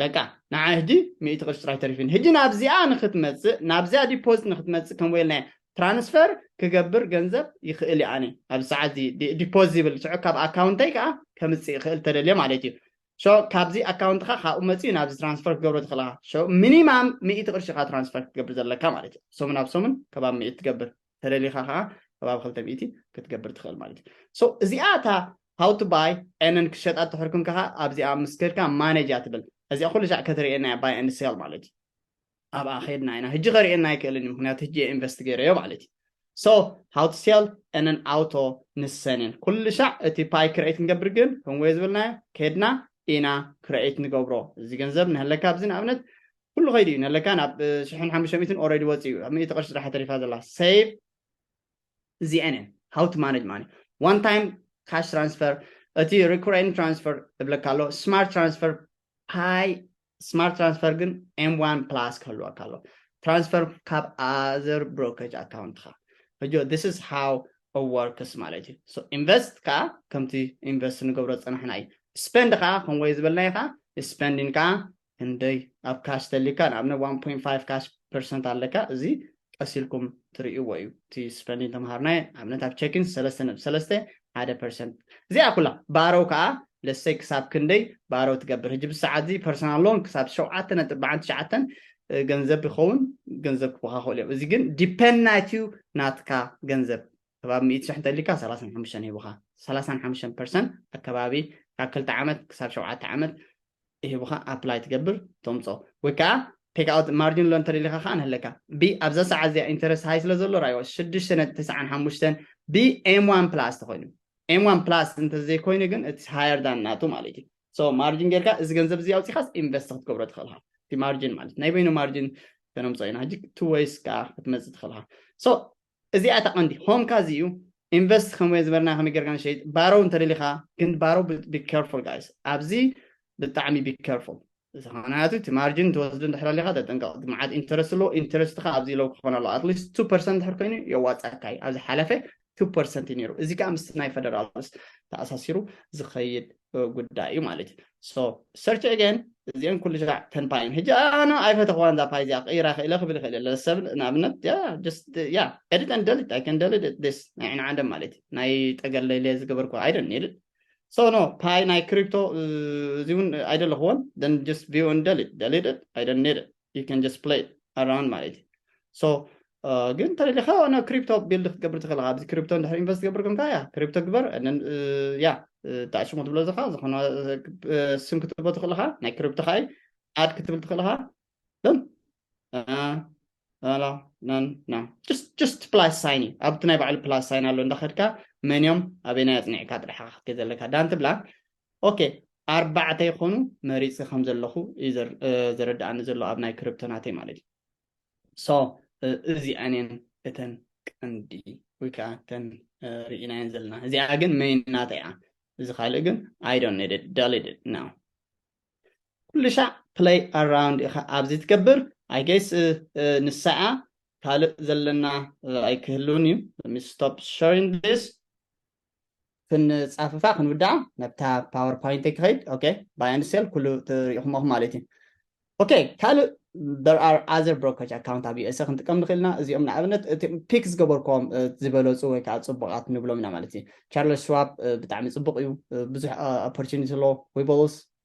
በቃ ንዓ ህጂ ሚእቲ ቅርሺ ጥራይ ተሪፍን ህጂ ናብዚኣ ንክትመፅእ ናብዚኣ ዲፖዚት ንክትመፅእ ከም ወይልና ትራንስፈር ክገብር ገንዘብ ይኽእል እዩ ኣነ ኣብ ሰዓት ዲፖዝ ይብል ስዑ ካብ ኣካውንተይ ከዓ ከምፅእ ይኽእል ተደልዮ ማለት እዩ ሶ ካብዚ ኣካውንትካ ካብኡ መፅዩ ናብዚ ትራንስፈር ክትገብሮ ትኽእል ኢኻ ሶ ሚኒማም ሚእቲ ቅርሺ ኢኻ ትራንስፈር ክትገብር ዘለካ ማለት እዩ ሰሙን ኣብ ሰሙን ከባቢ ሚእቲ ትገብር ተደሊኻ ከዓ ከባቢ ክልተ ሚእቲ ክትገብር ትኽእል ማለት እዩ ሶ እዚኣ እታ ሃው ቱ ባይ ኤንን ክትሸጣ ትሕርኩም ከኻ ኣብዚኣ ምስ ከድካ ማነጅ እያ ትብል እዚኣ ኩሉ ሻዕ ከተርእየና እያ ባይ ኤንድ ሴል ማለት እዩ ኣብኣ ከድና ኢና ህጂ ከርእየና ኣይክእልን እዩ ምክንያቱ ህጂ እየ ኢንቨስት ገይረዮ ማለት እዩ ሶ ሃው ቱ ሴል እንን ኣውቶ ንሰን እየን ኩሉ ሻዕ እቲ ፓይ ክርኤት ክንገብር ግን ከምወዮ ዝበልናዮ ከድና ኢና ክርኤት ንገብሮ እዚ ገንዘብ ንህለካ ኣብዚ ንኣብነት ኩሉ ከይዱ እዩ ንህለካ ናብ ሽሕን ሓሙሽተ ሚትን ኦረዲ ወፂ እዩ ኣብ ሚእቲ ቅርሺ ጥራሕ ተሪፋ ዘላ ሴቭ እዚአን እየን ሃው ቱ ማነጅ ማኒ ዋን ታይም ካሽ ትራንስፈር እቲ ሪኩሬን ትራንስፈር እብለካ ኣሎ ስማርት ትራንስፈር ፓይ ስማርት ትራንስፈር ግን ኤምዋን ፕላስ ክህልወካ ኣሎ ትራንስፈር ካብ ኣዘር ብሮከጅ ኣካውንትካ ሕጆ ስ ስ ሃው ወርክስ ማለት እዩ ኢንቨስት ከዓ ከምቲ ኢንቨስት ንገብሮ ዝፀናሕና እዩ ስፐንድ ከዓ ከምወይ ዝበልናዮ ከዓ ስፐንዲን ከዓ ክንደይ ኣብ ካሽ ተሊካ ንኣብነት 1.5 ካሽ ፐርሰንት ኣለካ እዚ ቀስ ኢልኩም ትርእይዎ እዩ እቲ ስፐንዲን ተምሃርናዮ ንኣብነት ኣብ ቸኪንስ ሰለስተ ነጥቢ ሰለስተ ሓደ ፐርሰንት እዚኣ ኩላ ባሮው ከዓ ለሰይ ክሳብ ክንደይ ባሮው ትገብር ህጂ ብሰዓት እዚ ፐርሰናል ሎን ክሳብ ሸውዓተ ነጥቢ በዓን ትሽዓተን ገንዘብ ይኸውን ገንዘብ ክቡካ ክእሉ እዮም እዚ ግን ዲፐን ናይትዩ ናትካ ገንዘብ ከባቢ ሚእቲ ሽሕ እንተሊካ ሰላሳን ሓሙሽተን ሂቡካ ሰላሳን ሓሙሽተን ፐርሰንት ኣከባቢ ካብ ክልተ ዓመት ክሳብ ሸውዓተ ዓመት ሂቡካ ኣፕላይ ትገብር ተምጾ ወይ ከኣ ቴክ ኣውት ማርጂን ሎን ተደሊካ ከኣ ንህለካ ብ ኣብዛ ሰዓት እዚኣ ኢንተረስት ሃይ ስለ ዘሎ ራይዎ ሽዱሽተ ነጥቢ ትስዓን ሓሙሽተን ብ ኤም ዋን ፕላስ ተኮይኑ ኤም ዋን ፕላስ እንተዘይ ኮይኑ ግን እቲ ሃየር ዳን ናቱ ማለት እዩ ሶ ማርጂን ጌርካ እዚ ገንዘብ እዚ ኣውጺኻስ ኢንቨስት ክትገብሮ ትኽእል ኢኻ እቲ ማርጂን ማለት ናይ በይኑ ማርጂን ከነምጾ ኢና ሕጂ ቱ ወይስ ከኣ ክትመጽእ ትኽእል ኢኻ ሶ እዚኣ እታ ቀንዲ ሆምካ እዚ እዩ ኢንቨስት ከምወ ዝበርና ከመይ ገርካ ንሸይጥ ባሮው እንተደሊካ ግን ባሮው ቢከርፉል ጋይስ ኣብዚ ብጣዕሚ ቢከርፉል ምክንያቱ እቲ ማርጅን ትወስዱ እንድሕር ኣሊካ ተጠንቀቕ መዓት ኢንተረስት ኣለዎ ኢንተረስትካ ኣብዚ ለው ክኾን ኣለዎ ኣትሊስት ቱ ፐርሰንት ድሕር ኮይኑ የዋፅኣካ እዩ ኣብዚ ሓለፈ ቱ ፐርሰንት እዩ ነይሩ እዚ ከዓ ምስ ናይ ፈደራልስ ተኣሳሲሩ ዝኸይድ ጉዳይ እዩ ማለት እዩ ሶ ሰርች ኣገን እዚአን ኩሉ ሻዕ ተንፓይን ሕጂ ኣነ ኣይፈተኽዋን ዛ ፓይ እዚኣ ክቕይራ ክኢለ ክብል ይኽእል እለ ሰብ ንኣብነት ያ ኤድት ን ደልት ኣይ ከን ደልት ስ ናይ ዕና ዓንደም ማለት እዩ ናይ ጠገለይ ለ ዝገበርኩ ኣይደን ይልል ሶ ኖ ፓይ ናይ ክሪፕቶ እዚ እውን ኣይደለኽዎን ደን ስ ቪው ን ደልት ደልት ኣይ ደን ኔድ you can just play around ማለት እዩ so ግን ተደሊኻ ነ ክሪፕቶ ቢልድ ክትገብር ትኽእል ኢኻ ኣብዚ ክሪፕቶ እንድሕር ኢንቨስት ትገብር ኮንካ ያ ክሪፕቶ ግበር ያ እንታይ ሽሙ ትብሎ ዘለካ ዝኾነ ስም ክትህቦ ትኽእል ኢኻ ናይ ክሪፕቶ ከዓ ኣድ ክትብል ትኽእል ኢኻ ግን ላ ነን ና ጅስት ፕላስ ሳይን እዩ ኣብቲ ናይ ባዕሉ ፕላስ ሳይን ኣሎ እንዳኸድካ መን እዮም ኣበይናይ ኣፅኒዕካ ጥራሕካ ክትከ ዘለካ ዳን ትብላ ኦኬ ኣርባዕተ ይኾኑ መሪፂ ከም ዘለኹ እዩ ዘረድኣኒ ዘሎ ኣብ ናይ ክርብቶ ናተይ ማለት እዩ ሶ እዚኣን እየን እተን ቀንዲ ወይ ከዓ እተን ርኢናየን ዘለና እዚኣ ግን መይን ናተ እያ እዚ ካልእ ግን ኣይ ዶንት ኒድ ኢት ደሊት ኢት ናው ኩሉ ሻዕ ፕለይ ኣራውንድ ኢኻ ኣብዚ ትገብር ኣይ ጌስ ንሳ እያ ካልእ ዘለና ኣይክህልውን እዩ ስቶፕ ሸሪንግ ዲስ ክንፃፍፋ ክንውድዓ ነብታ ፓወር ፖይንተይ ክኸይድ ኦኬ ባይ ኣንድ ሴል ኩሉ ትሪኢኹሞ ማለት እዩ ኦኬ ካልእ there are other brokerage account ኣብ ዩኤስኤ ክንጥቀም ንኽእል ኢና እዚኦም ንኣብነት እቲ ፒክ ዝገበርክዎም ዝበለፁ ወይ ከዓ ፅቡቃት ንብሎም ኢና ማለት እዩ ቻርለስ ሽዋብ ብጣዕሚ ፅቡቅ እዩ ብዙሕ ኦፖርቹኒቲ ኣለዎ ዊቦልስ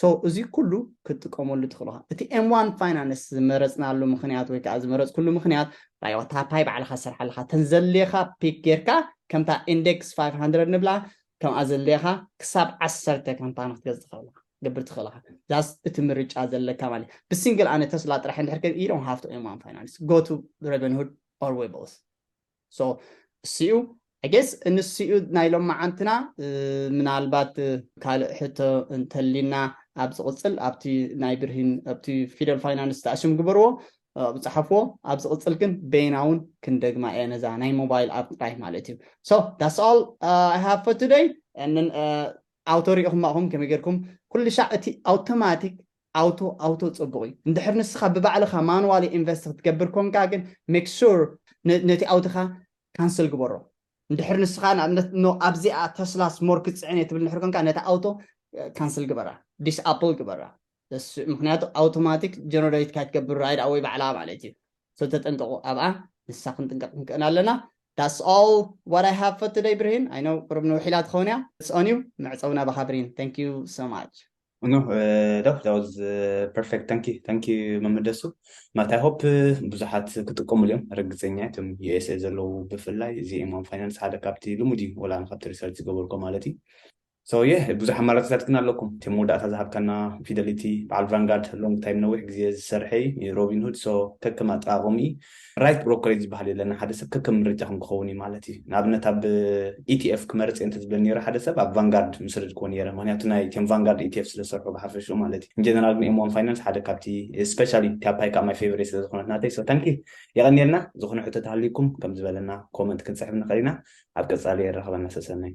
ሶ እዚ ኩሉ ክትጥቀመሉ ትኽእል ኢኻ እቲ ኤም ዋን ፋይናንስ ዝመረፅናሉ ምኽንያት ወይ ከዓ ዝመረፅኩሉ ምኽንያት ራይዋ ታፓይ ባዕልኻ ትሰርሓ ኣለኻ እተን ዘድልየካ ፒክ ጌርካ ከምታ ኢንዴክስ 500 ንብላ ከምኣ ዘድልየካ ክሳብ ዓሰርተ ካምፓኒ ክትገዝ ትኽእል ኢኻ ገብር ትኽእል ኢኻ ዛስ እቲ ምርጫ ዘለካ ማለት እዩ ብሲንግል ኣነ ተስላ ጥራሕ እንድሕር ዩ ዶንት ሃቭ ቱ ኤም ዋን ፋይናንስ ጎ ቱ ሬቨንሁድ ኦር ዌብኦስ ሶ እሱዩ ኣይ ጌስ እንሱዩ ናይ ሎማዓንትና ምናልባት ካልእ ሕቶ እንተሊና ኣብ ዝቕጽል ኣብቲ ናይ ብርሂን ኣብቲ ፊደል ፋይናንስ ተኣሽም ግበርዎ ብጽሓፍዎ ኣብ ዝቕጽል ግን በይና እውን ክንደግማ እየ ነዛ ናይ ሞባይል ኣብ ጥራይ ማለት እዩ ሶ ዳስ ኦል ኣይ ሃቭ ፎር ቱደይ ኣውቶ ሪኢኹማ ኹም ከመይ ጌርኩም ኩሉ ሻዕ እቲ ኣውቶማቲክ ኣውቶ ኣውቶ ጽቡቕ እዩ እንድሕር ንስኻ ብባዕልኻ ማኑዋሊ ኢንቨስት ክትገብር ኮንካ ግን ሜክ ሹር ነቲ ኣውትኻ ካንስል ግበሮ እንድሕር ንስኻ ንኣብነት ኖ ኣብዚኣ ተስላስ ሞር ክጽዕን እየ ትብል እንድሕር ኮንካ ነቲ ኣውቶ ካንስል ግበራ ዲስ ኣፕል ግበራ ምክንያቱ ኣውቶማቲክ ጀነሬት ካይትገብር ራይድ ኣወይ ባዕላ ማለት እዩ so ተጠንቀቑ ኣብኣ ንሳ ክንጥንቀቕ ክንክእል ኣለና That's all what I have for today ብርሂን I know ቅሩብ ንውሕ ኢላ ትኸውን እያ It's on you መዕፀውና ባኻ ብርሂን Thank you so much ኖ ዳት ዋዝ ፐርፌክት ታንኪ ታንኪ መመደሱ ማለት ኣይ ሆፕ ብዙሓት ክጥቀሙሉ እዮም ርግፀኛ እቶም ዩኤስኤ ዘለዉ ብፍላይ እዚ ኤማን ፋይናንስ ሓደ ካብቲ ልሙድ እዩ ወላ ካብቲ ሪሰርች ዝገበርኮ ማለት እዩ ሶ የ ብዙሕ ኣማራፂታት ግን ኣለኩም እቲ መወዳእታ ዝሃብካና ፊደሊቲ በዓል ቫንጋርድ ሎንግ ታይም ነዊሕ ግዜ ዝሰርሐ እዩ ሮቢንሁድ ሶ ከከም ኣጠቃቅሚ ራይት ብሮከሬጅ ዝበሃል የለን ንሓደ ሰብ ከከም ምርጫኹም ክኸውን እዩ ማለት እዩ ንኣብነት ኣብ ኢቲኤፍ ክመርፅ እየ እንተዝብለኒ ነይረ ሓደ ሰብ ኣብ ቫንጋርድ ምስረድክዎ ነይረ ምክንያቱ ናይ እትም ቫንጋርድ ኢቲኤፍ ስለዝሰርሑ ብሓፈሽኡ ማለት እዩ ኢንጀነራል ግን ኤምዋን ፋይናንስ ሓደ ካብቲ ስፔሻሊ ፒያፓይ ካብ ማይ ፌቨሬት ስለዝኾነት ናተይ ሰው ታንኪ የቐኒየልና ዝኾነ ሕቶ ተሃልዩኩም ከምዝበለና ኮመንት ክንፅሕፍ ንኽእል ኢና ኣብ ቀፃሊ የራኸበና ሰሰናይ